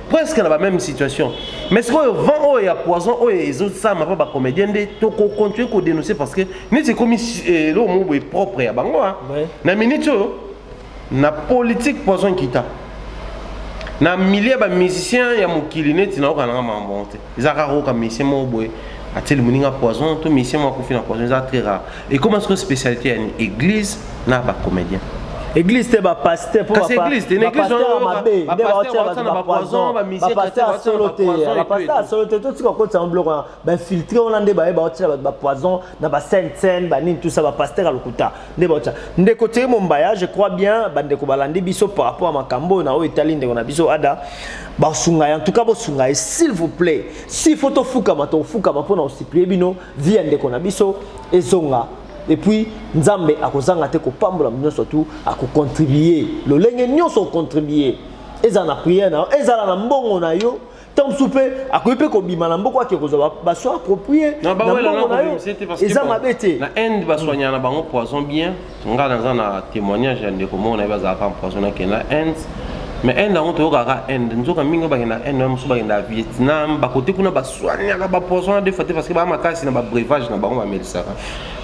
presque na ba même situation mais sikoyo vent oyo ya poison oyo ezosalama mpo bacomédien nde tokocontinue kodénonce parce que neti ekomi eh, eloko moko boye propre ya bango ah. na minute oyo na politique poison kita na milieu bamusicien ya mokili neti nayoka nanga makambo yango te eza rare oyoka musicien moko boye atieli moninga poison to musicien moko akufi na poison eza très rare ekoma sikoyo spécialité ya nini église na bacomédien église te bapaster kasi église te na église wana bapoison bapaster solo te bapaster solo te totika kokotisa yango biloko wana bainfiltre wana nde baye baotia bato bapoison na basainte saine banini tout ça bapaster ya lokuta nde baotya ndeko teye mombaya je crois bien bandeko balandi biso par rapport ya makambo oyo na oyo etali ndeko na biso ada basunga ye en tout cas bosunga ye s'il vous plaît si faut tofukama tofukama mpo na kosiplie bino vi ya ndeko na biso ezonga epuis nzambe akozanga te kopambola nyonso tu akocontribue lolenge nyonso ocontribue ezala na priere na yo ezala na mbongo na yo ntango mosusu mpe akoki mpe kobima na mboka ake kozwa baso aproprie na mbongo na yo eza mabe te na inde baswanyaka na bango poison bien ngai naza na témoignage ya ndeko moko na ye bazalaka empoison na kenda inde mais inde yango toyokaka inde nzoka mingi oyo bakenda inde na mosusu bakenda vietnam bakote kuna baswaniaka bapoison na defa te parce que baa makasi na babrevage na bango bamelisaka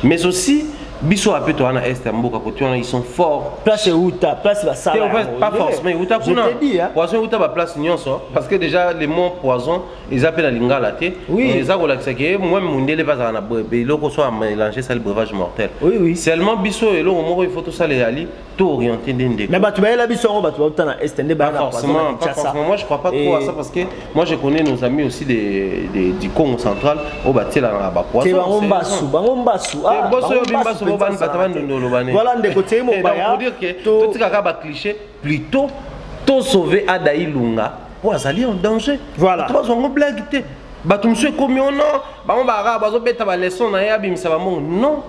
mais aussi biso ape toa na est ya mboka kote wana ils sont forts place euta place basala pas forcément euta kuna poison euta baplace nyonso parce que déjà le mot poison eza mpe na lingala te eza kolakisa ke moi mondele mpe azala na eloko so amélange sali breuvage mortel seulement biso eloko moko il faut tosala eyali tout orienté nde ndeko. Mais bato bayela biso yango bato bauta na est nde bayela forcément, pas forcément. Moi je crois pas trop à ça parce que moi je connais nos amis aussi des, des du Congo central au batela na ba poisson. Bango mbasu, bango mbasu. Ah, eh, boso yo bimbasu bo bani bata bani ndolo bani. Voilà ndeko teye mo baya. Donc pour dire que tout tika ka ba cliché plutôt to sauver Ada Ilunga po azali en danger voilà to bazongo blague te bato mosusu ekomi ona oh bango baarab bazobeta baleson na ye abimisa bambongo non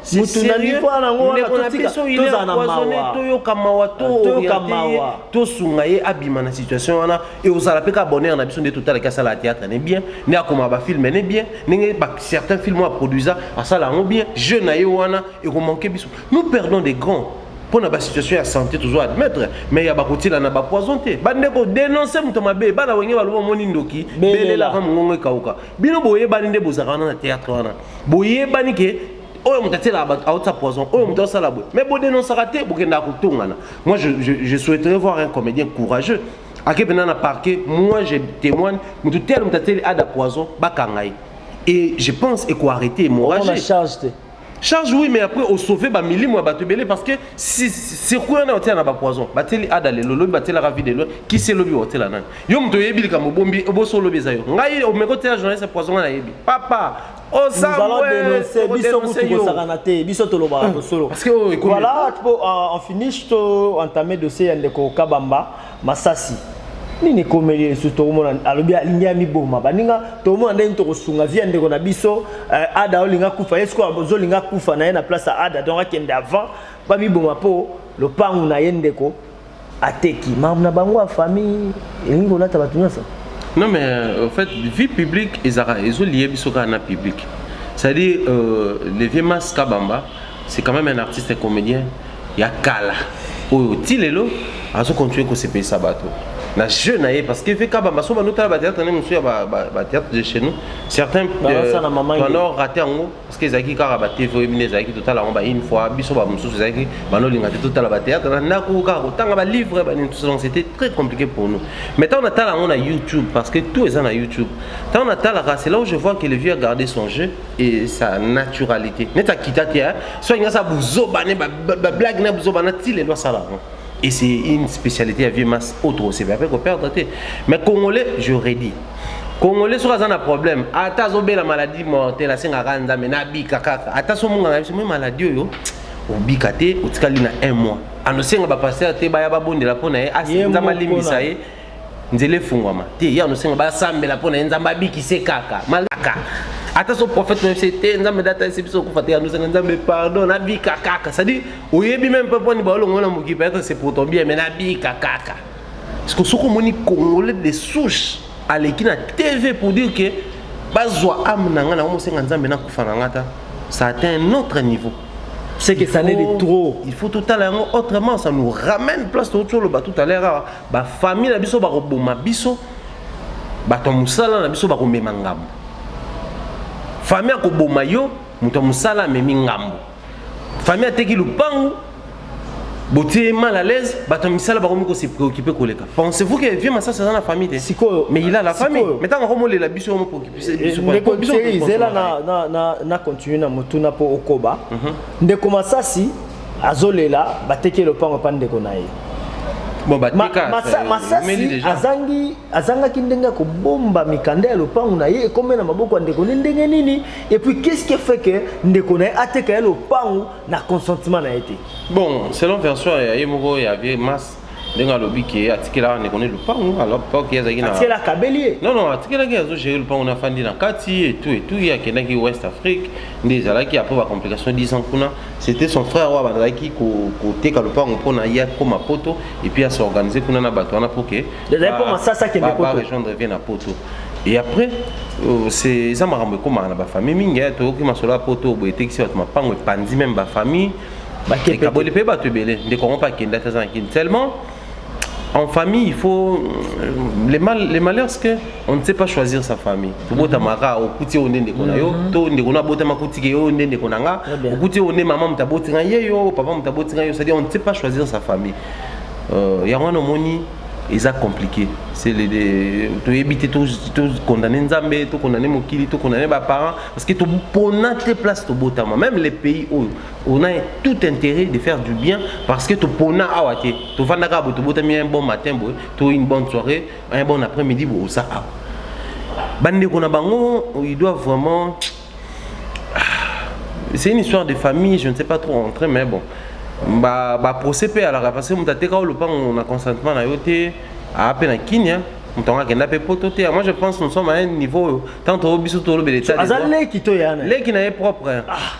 ndeko na biso ile empoisonne toyoka mawa tooriente ye tosunga ye abima na situation wana e ozala mpe ka bonheur na biso nde totalaki asala ya théâtre ne bien nde akoma bafilme ne bien ndenge certains film oyo aproduisa asala yango bien jeu na ye wana ekomanke biso Nous perdons des grands mpo na basituation ya santé tozo admettre mais ya bakotila na bapoison te bandeko denonce moto mabe bana wenge baloba omoni ndoki belela va mongongo ekauka bino boyebani nde bozalaka wana na théâtre wana boyebani ke oyo moto atielaka bato aotisa poison oyo moto asala boye mais bodenonsaka te bokendaka kotongana moi je, je, je souhaiterais voir un comédien courageux ake mpena na parquet moi je témoigne moto tele moto atieli ada poison bakanga ye et je pense ekoarrete hémorragie charge oui mais après osauve bamilimo ya bato ebele parce que circuit wana otyela na bapoison batyeli ada lelo lobi batyelaka vi lelo kisi elobi otyela nani yo moto oyebi likambo obombi obosi olobi eza yo ngai omeki otyela journaliste ya poison ngai nayebi papa biso kutu kosakana te biso tolobaka tosolo voilà po en finish to entame dossier ya ndeko kabamba masasi nini ekomeli ye lisusu tokomona alobi alingi amiboma baninga tokomona nde nini tokosunga via ndeko na biso eh, ada olinga kufa ye sikoyo ozolinga kufa na ye na place ya ada donc akende avant bamiboma mpo lopangu na ye ndeko ateki makambo na bango ya famille elingi kolata bato nyonso non mais euh, en fait vie publique ezalaka ezoliye biso kaka na publique c'est-à-dire euh, le vieux mas kabamba c'est quand même un artiste comédien ya kala oyo ti lelo azo continuer kosepelisa bato na jeu na ye parce que vk bambaso banotala batheatre nde mosusu ya batheatre de chez nous certains bano euh, rate yango parce que ezalaki kaka batv oyebi nde ezalaki totala yango baune fois biso bamosusu ezalaki banolinga te totala batheatre na ndako kaka kotanga balivre banini tout donc c'était très compliqué pour nous mais ntango natala yango na youtube parce que tout eza na youtube ntango natalaka c'est là où je vois que le vieux a gardé son jeu et sa naturalité neti akita te so alingi asala buzoba ne bablage na buzoba na ti lelo asala yango et c'est une spécialité ya vieux mas oyo tokosepela mpe koperdre te mais congolais je redis congolais soki aza na problème ata azobela maladie mortele asengaka nzambe nabika kaka ata so monganga na biso moi maladie oyo obika te otikali na un mois anosenga bapaster te baya babondela mpo na ye asenza malimbisa ye nzela efungwama te ye anosenga basambela mpo na ye nzambe abikise kaka malaka ata so prophète na biso te nzambe nde atalisi biso okufa te anosenga nzambe pardon nabika kaka cestadi oyebi meme mpe mponi baolongo na mokipe ata se pour ton bien me nabika kaka siko soki omoni congolais de souche aleki na tv pour dire que bazwa ame na ngai nakomosenga nzambe nakufa na ngai ata ça atteint un autre niveau c'est que ça n'est de trop il faut tout à l'heure autrement ça nous ramène place tout le bas tout à l'heure Ba famille na biso bakoboma biso, bato ya mosala na biso bakomema ngambo. Famille akoboma yo, moto ya mosala amemi ngambo. Famille ateki lupangu, botie ye mal à l'aise, bato ya misala bakomi ko se préoccuper koleka. Pensez-vous que vieux Masasi aza na famille te? Sikoyo, mais il a la famille. sikoyo. Mais ntango akomolela biso yango préoccuper biso. Eh, biso ndeko biso Thierry, tokosoma zela ye. na, na, na, na continue na motuna mpo okoba ndeko masasi azolela bateki lopango epa ndeko na ye bon, bateka, ma, masa, masasi azangi azangaki ndenge ya kobomba mikanda ya lopango na ye ekomi na maboko ya ndeko ne ndenge nini epuis qu'est-ce qui fait que ndeko na ye ateka ye lopango na consentement na ye te bon selon version ya ye moko ya vie mas ndenge alobi ke atikelaka ndeko ne lupangu alors pok ye azalaki atikela akabeli ye non non atikelaki azo gere lupangu na afandi na kati etu etu ye akendaki west afrique nde ezalaki après ba complication 10 ans kuna c'était son frère oyo abandaki koteka lupangu mpo na ye akoma poto epuis ase organise kuna na bato wana mpo ke rejoindre vie na poto et après euh, eza makambo ekomaka na bafamille mingi toyoki masolo ya poto boye etekisi bato mapango epanzi meme bafamille ekaboli mpe bato ebele ndeko yango mpe akenda te aza na kini seulement en famille il faut euh, les, mal, les malheurs c'est que on ne sait pas choisir sa famille tobotama kaka mhm. okuti oyo nde ndeko na yo mhm. to ndeko na abotama akutike yo oyo nde ndeko na nga okuti oyo nde mama moto aboti nga ye yo papa moto aboti nga yo c'est-à-dire on ne sait pas choisir sa famille euh, yango wana omoni eza compliqué toyebi te tokondane nzambe tokondane mokili tokondane baparent parce que topona te place tobotama même les pays oyo on a tout intérêt de faire du bien parce que topona awa te tofandaka boye tobotami un bon matin boye to une bonne soirée un bon après midi boye oza awa bandeko na bango il doit vraiment tch, c'est une histoire de famille je ne sais pas trop rentrer mais bon ba ba procès pe alaka parce que moto ateka lopango na consentement na yo te aa pe na kinia moto yango akenda pe poto te moi je pense nous sommes à un niveau oyo tant toyo biso tolobela etat aza leki to yana leki na ye propre hein. ah.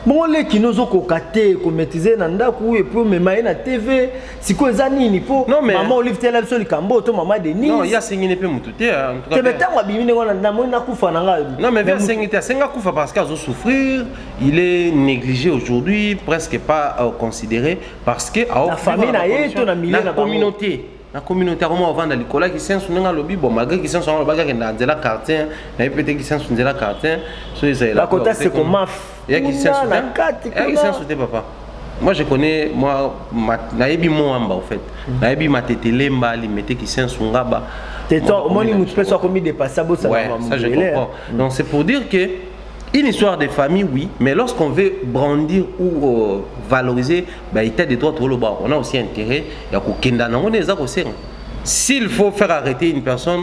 bongo leki nozokoka te komaitrise na ndako epuis omema ye na tv sikoyo eza nini mpo mama olive tela biso likambo to mama denise asengini mpe motu te tebe ntango abimi ndenge wana namoni nakufa na ngai non mais asengi te asengi akufa parce que azo souffrir il est négligé aujourd'hui presque pas euh, considéré parce que na famille na ye to na milieu na communauté na communauté akoma ovanda likolo ya kisensu ndenge alobi bon malgré kisensu yango alobaki akenda nzela quartier na ye mpe te kisensu nzela quartier so ezalelakota seko maf ya kisasa kuna na kati kuna ya kisasa te papa moi je connais moi nayebi moamba au fait mhm. nayebi matete lemba limete kisensu ngaba omoni motu mpe so akomi dépasse abosanaamabele donc c'est pour dire que une histoire de famille oui mais lorsqu'on veut brandir ou euh, valoriser bah, état de droit toloba on a aussi intérêt ya kokenda nango nde eza kosenga s'il faut faire arrêter une personne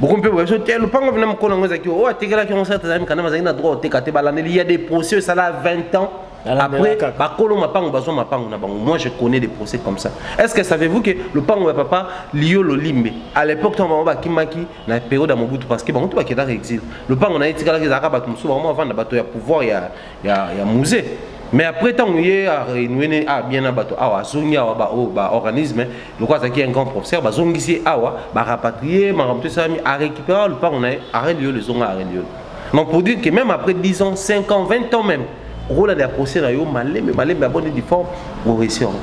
bokomi mpe boyebi so te lopango vina mokolo yango ezalaki oyo atekelaki yango sala tazali mikanda bazalaki na droit oteka te balandeli ya des procès esala 20 ans après bakolo mapango bazwa mapango na bango moi je connais des procès comme ça est ce que savez-vous que lopango ya papa liyo lolimbe à l'époque ntango bango bakimaki na période ya mobutu parce que bango to bakendaka exil lopango na ye etikalaki ezalaka bato mosusu bango avanda bato ya pouvoir ya, ya, ya musée mais après ntango ye arenouene a bien na bato awa azongi awa baoyo baorganisme lokola azalaki un grand professeur bazongisi ye awa barapatrie makambo to esalami arécupera lopango na ye arend yolo ezonga arend yolo donc pour dire que même après 10 ans 5 ans 20 ans même okolanda ya procès na yo malembe malembe ya bonne difforme oresi yango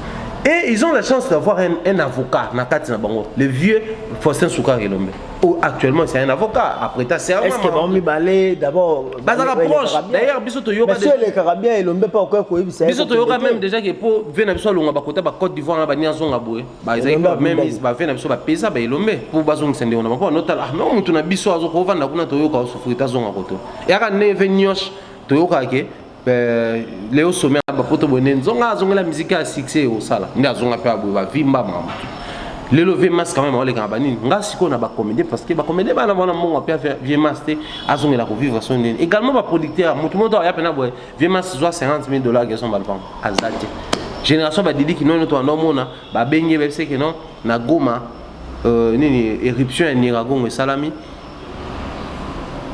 et ils ont la chance d'avoir un, un avocat na kati na bango le vieux faustin soukar elombe Oh, actuellement c'est un avocat après ta serment est-ce que ba mi balé d'abord bazaka proche d'ailleurs biso to yoka monsieur le carabia et l'ombe pas quoi quoi bisa biso to yoka même déjà que pour venir biso longa ba kota ba Côte d'Ivoire na ba ni azonga boye ba ezaki ba même is ba venir biso ba pesa ba elombe pour bazonga sende on a pas notal ah mais mutu na biso azo ko vanda kuna to yoka souffrir ta zonga koto yaka neve nyosh to yoka ke Euh, leo sommet ya bapoto boye nde nzonga azongela miziki ya succès ekosala nde azonga mpe aboye bavimba mamu lelo vie mas quand même aolekaka banini nga sikoyo na bacomédien parce que bacomédien bana bana mbongo mpe vie mas te azongela kovivre so ndeni également baproducteur motu moto aya mpena boye vie mas zwa 50 000 dollars gerson balpang aza te génération badidi kinono to anda omona babengi ye bayebiseke non na goma euh, nini éruption ya niragongo esalami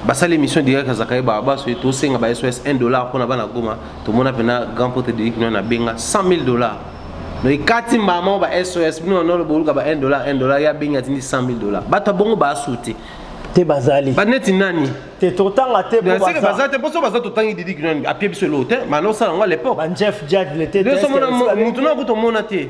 basali émission direct ya zakaye barabas oyo tosenga ba sos 1 dollar mpona bana goma tomona mpena grand pote de ikino na benga 100 000 dollar no ekati mbala moko ba sos bino banolo boluka ba 1 dollar 1 dollar ya bengi atindi 100 000 dollar bato ya bongo baasu te te bazali baneti nani te totanga te seke baza te mposo baza totangi didi kinani apie biso eloo te mana osala yango alepoque motu na kutu omona te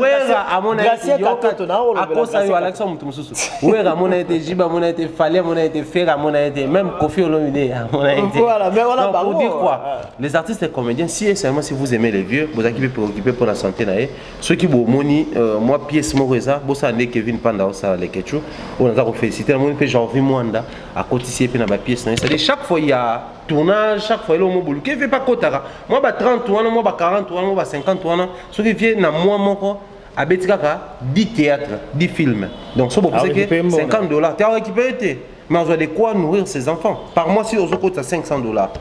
wera amona akosa yo alakisa moto mosusu wera amona ye te jiba amona ye te fali amona ye te fere amona ye te même kofi olomide amona ye tepour dire quoi ah. les artistes et comédiens si et seulement si vous aimez les vieux bozalaki mpe préoccupé mpo na santé na ye soki bomoni euh, mwa pièce moko eza bosala nde kevin panda osala lekechu oyo naza kofélicité namoni mpe janvi mwanda akotisi ye mpe na bapièce na ye cestadire chaque fois ya tournage chaque fois eloo mobulu kevin mpe akotaka mwa ba 30 wana mwa ba 40 wana mwa ba 50 wana soki vie na mwa moko abeti kaka 10 théâtre 10 films donc so bopesa ke 50 dollars te aorécupere te mais azwa de quoi nourrir ses enfants par mois si ozokotisa 500 dollars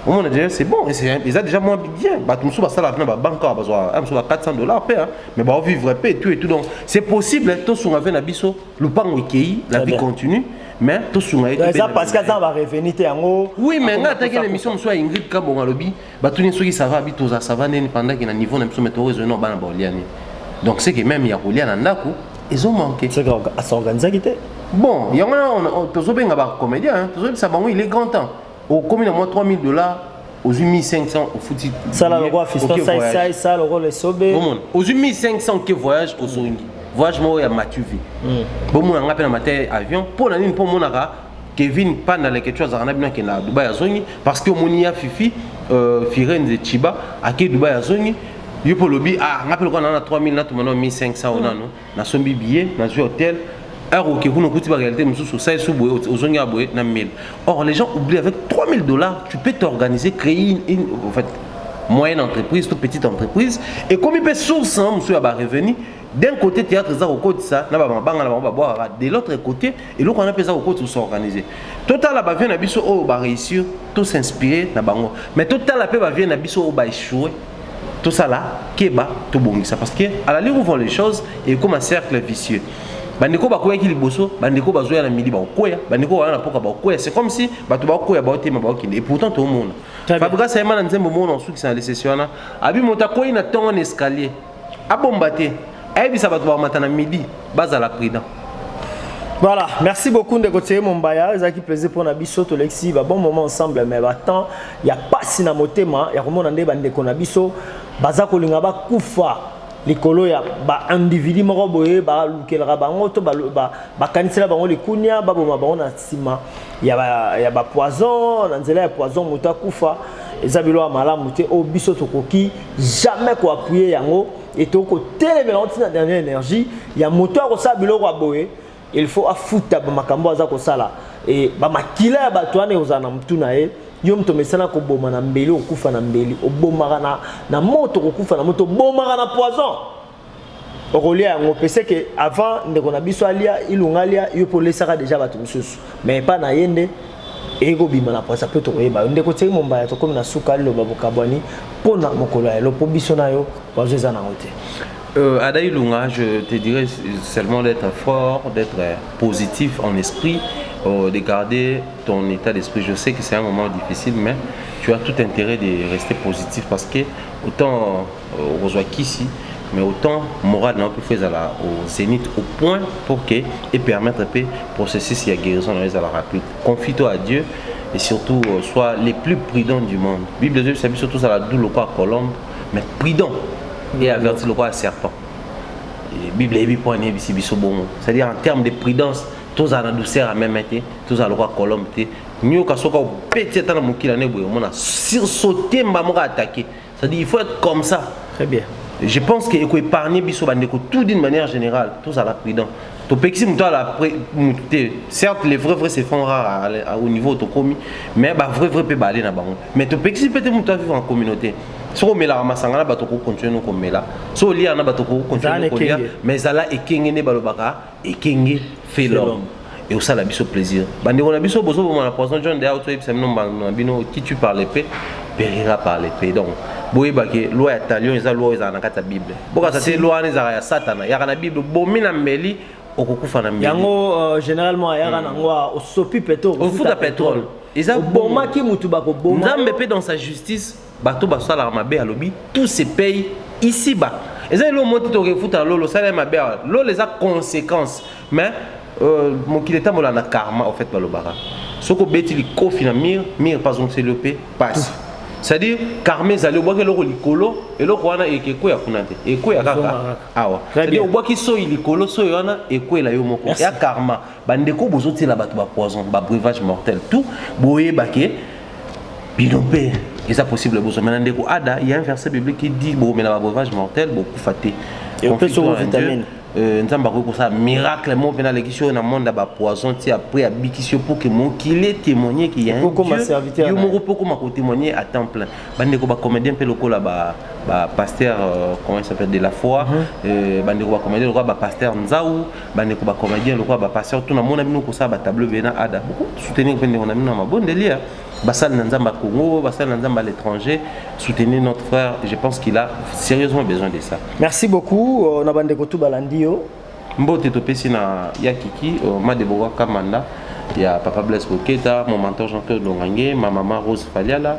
omona déjà c'est bon eza déjà moins bien bato mosusu basalaka mpe na babanke awa bazwa mosusu ba 400 dollars mpe mais baovivre mpe tout et tout donc c'est possible tosunga mpe na biso lopango ekei la vie continue mais tosunga ye eza parce que aza na barevenu te yango oui mais ngai ataki na émission mosusu ya ingrid kabongo alobi batuni soki sava abi toza sava ndeni pendaki na niveau na biso metoko ezoi na bana baoliani donc c'est que même ya kolia na ndako ezomanke asorganisaki te bon yango wana tozobenga bacomédien hein. tozoyebisa bango il est grand temps okomi na mwa 3000 dollars ozwi 1500 ofuti sala lokola fistaisai sala lokola esobe omona ozwi 1500 ke voyage ozongi voyage moko ya matuvi hmm. bomona ngai mpe na mateya avion mpo na nini mpo omonaka Kevin Panda Leketshou azalaka na bino akenda na Dubai azongi parce que omoni ya Fifi euh, Firenze Chiba ake Dubai azongi yo mpe olobi ah ngai mpe lokola nana 3000 natuma nao 1500 oyo nano nasombi billet nazwi hotel heure oke kuna okuti baréalité mosusu osali su boye ozongi ya boye na 1000 or les gens oublient avec 3000 dollars tu peux t'organiser créer une, une, en fait, moyenne entreprise to petite entreprise ekomi mpe source mosusu ya barevenu d'un côté théâtre eza kokotisa na bamabanga na bango babwakaka de l'autre côté eloko wana mpe eza kokotisa osorganise totala bavie na biso oyo baréussir to s'inspire na bango mais totala mpe bavie na biso oyo baechoue tosala keba tobongisa parce que à la ligne où vont les choses ekoma cercle vicieux bandeko bakweyaki liboso bandeko bazoya na midi bakokweya bandeko bawana na mpoka bakokweya c'est comme si bato bakokweya baotema bakokende et pourtant tomona fabrigas ayema na nzembo mona osukisa na lesesi wana abi moto akwei na ntongo na escalier abomba te ayebisa bato bamata na midi bazala prudent Voilà, merci beaucoup ndeko Tseye Mombaya, ezaki plaisir pour na biso tolexi ba bon moment ensemble mais ba temps ya pasi na motema ya komona nde ba ndeko na biso baza kolinga ba kufa likolo ya ba individu moko boye ba lukelaka bango to ba bakanisela bango likunia baboma bango na sima ya ba, ya ba poison na nzela ya poison moto akufa eza biloko ya malamu te oyo biso tokoki jamais koappuye yango etoki kotelemela yango ntina dernière énergie ya moto ya kosala biloko ya boye il faut afuta bamakambo aza kosala e bamakila ya bato wana ekozala na motu na ye yo moto omesana koboma na mbeli okokufa na mbeli obomaka na, na moto okokufa na moto obomaka na poison okolia yango mpe seke avant ndeko na biso alia ilunga alia yo mpe olesaka deja bato mosusu mais epai na ye nde eye kobima na pwasa mpe tokoyeba yo ndeko tiei mombaya tokomi na suka liloba bokabwani mpo na mokolo ya lelo mpo biso na yo wazo eza nango te Euh, Ada Ilunga, je te dirais seulement d'être fort, d'être positif en esprit, euh, de garder ton état d'esprit. Je sais que c'est un moment difficile, mais tu as tout intérêt de rester positif parce que autant Euh, okozwa kisi mais autant morale na yo mpe fo ezala au zénith au point pour que e permettre mpe processus ya guérison na yo ezala rapide confie toi à dieu et surtout euh, soit les plus prudents du monde bible ezobisa biso tozala du lokola colombe mais prudent et averti lokola serpent bible eyebi mpo ani eyebisi biso bongo c'est-à-dire en terme de prudence tozala na douceur ya meme te tozala lokola colombe te nioka soki obeti ata na mokili ane boye omona sursaute mba moko atake Ça dit, il faut être comme ça. Très bien. Je pense que eko épargner biso bandeko tout d'une manière générale, tous à la prudent. To pexi muto à la muté. Certes, les vrais vrais se font rares au niveau tokomi, mais ba vrai vrai peut ba aller na bango. Mais to pexi peut être muto vivre en communauté. soko omelaka masanga na bato okokontinue nokomela so olia na bato okokontinue nokolia mais ezala ekenge nde balobaka ekenge felom et ça la biso plaisir bande on a biso bozo bon la poison John de auto ebisa bino mbano bino qui tu par l'épée perira par l'épée donc boyeba ke loi ya talion eza loi ezala na kati ya bible bokasa te loi wana ezalaka ya satana yaka na bible bomi na mbeli okokufa na mbeli yango euh, généralement ayaka hmm. nango osopi petrole ofuta petrole eza bomaki motu bakoboma nzambe mpe dans sa justice bato basalaka mabe alobi tout se paye ici ba eza eloo moko te tokefuta na lolo osala ye mabe awa lolo eza conséquence mais euh, mokili etambola na karma au fait balobaka soki obeti likofi na mire mire mpe azongiseli yo mpe pasi c'est-à-dire karma ezali obwaki eloko likolo eloko wana ekweya kuna te ekweya kaka awa c'est-à-dire obwaki soyi likolo soyi wana ekwela yo moko ya karma bandeko bozotiela bato ba poison ba breuvage mortel tout boyeba ke bino mpe eza possible bozomela na ndeko ada ya un verset biblique qui dit bokomela ba breuvage mortel bokufa te euh, nzambe akoki kosala miracle moko mpe nalekisi oyo na monde ya bapoison ti après abikisi yo mpo ke mokili etémoigne ke ya yo moko mpe okoma kotémoigne à temps plein bandeko bacomédien mpe lokola ba pasteur euh, comment il s'appelle de la foi mhm. euh, bandeko bacomédien lokola bapasteur nzau bandeko ba comédien lokola ba pasteur to namona bino kosala ba tableau bena ada boko soutenir mpe ndeko na bino na mabondeli ya basali na nzambe ya congo basali na nzambe à l'étranger soutenir notre frère je pense qu'il a sérieusement besoin de ça merci beaucoup euh, na bandeko tout balandi yo mbote topesi na ya kiki euh, madeboka kamanda ya papa blaise boketa mon mentor jean claude longange ma mama rose faliala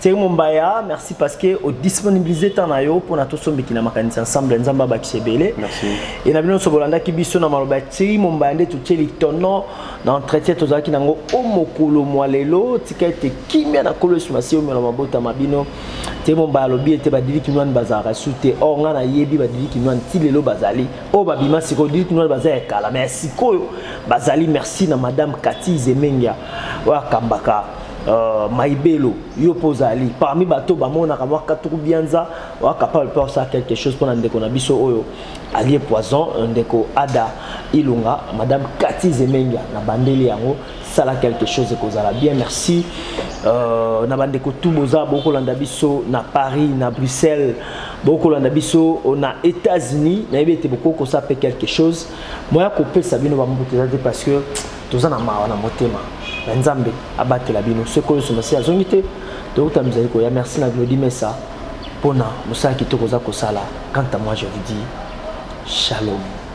Thierry Mombaya, merci parce que au disponibiliser temps na yo pona to sombi kina makanisa ensemble nzambe abakise ebele. Merci. Et na bino sobolanda ki biso na maloba Thierry Mombaya nde totieli tono na entretien tozalaki nango o mokolo mwa lelo tika ete kimia na kolo Yesu Masiya omela mabota ma bino. Thierry Mombaya alobi ete badili kinwani bazalaka su te or nga nayebi badili kinwani ti lelo bazali oyo babima sikoyo dili kinwani baza ya kala mais sikoyo bazali merci na madame Cathy Zemengia oyo akambaka Uh, maibelo yo mpo ozali parmi bato bamonaka mwa katuku bianza oa capable mpe osala quelque chose mpo na ndeko na biso oyo alie poison euh, ndeko ada ilunga madame kati zemengia na bandeli yango sala quelque chose ekozala bien merci uh, na bandeko tu boza bokolanda biso na paris na bruxelles bokolanda biso euh, na états-unis nayebi ete bokoki kosala mpe quelque chose moya kopesa bino bambuta eza te parce que toza na mawa na motema na nzambe abatela bino soki oyo somasi azongi te tokuta mizali koya merci na glodi mesa mpona mosala kitoko oza kosala quant à moi je vous dis shalom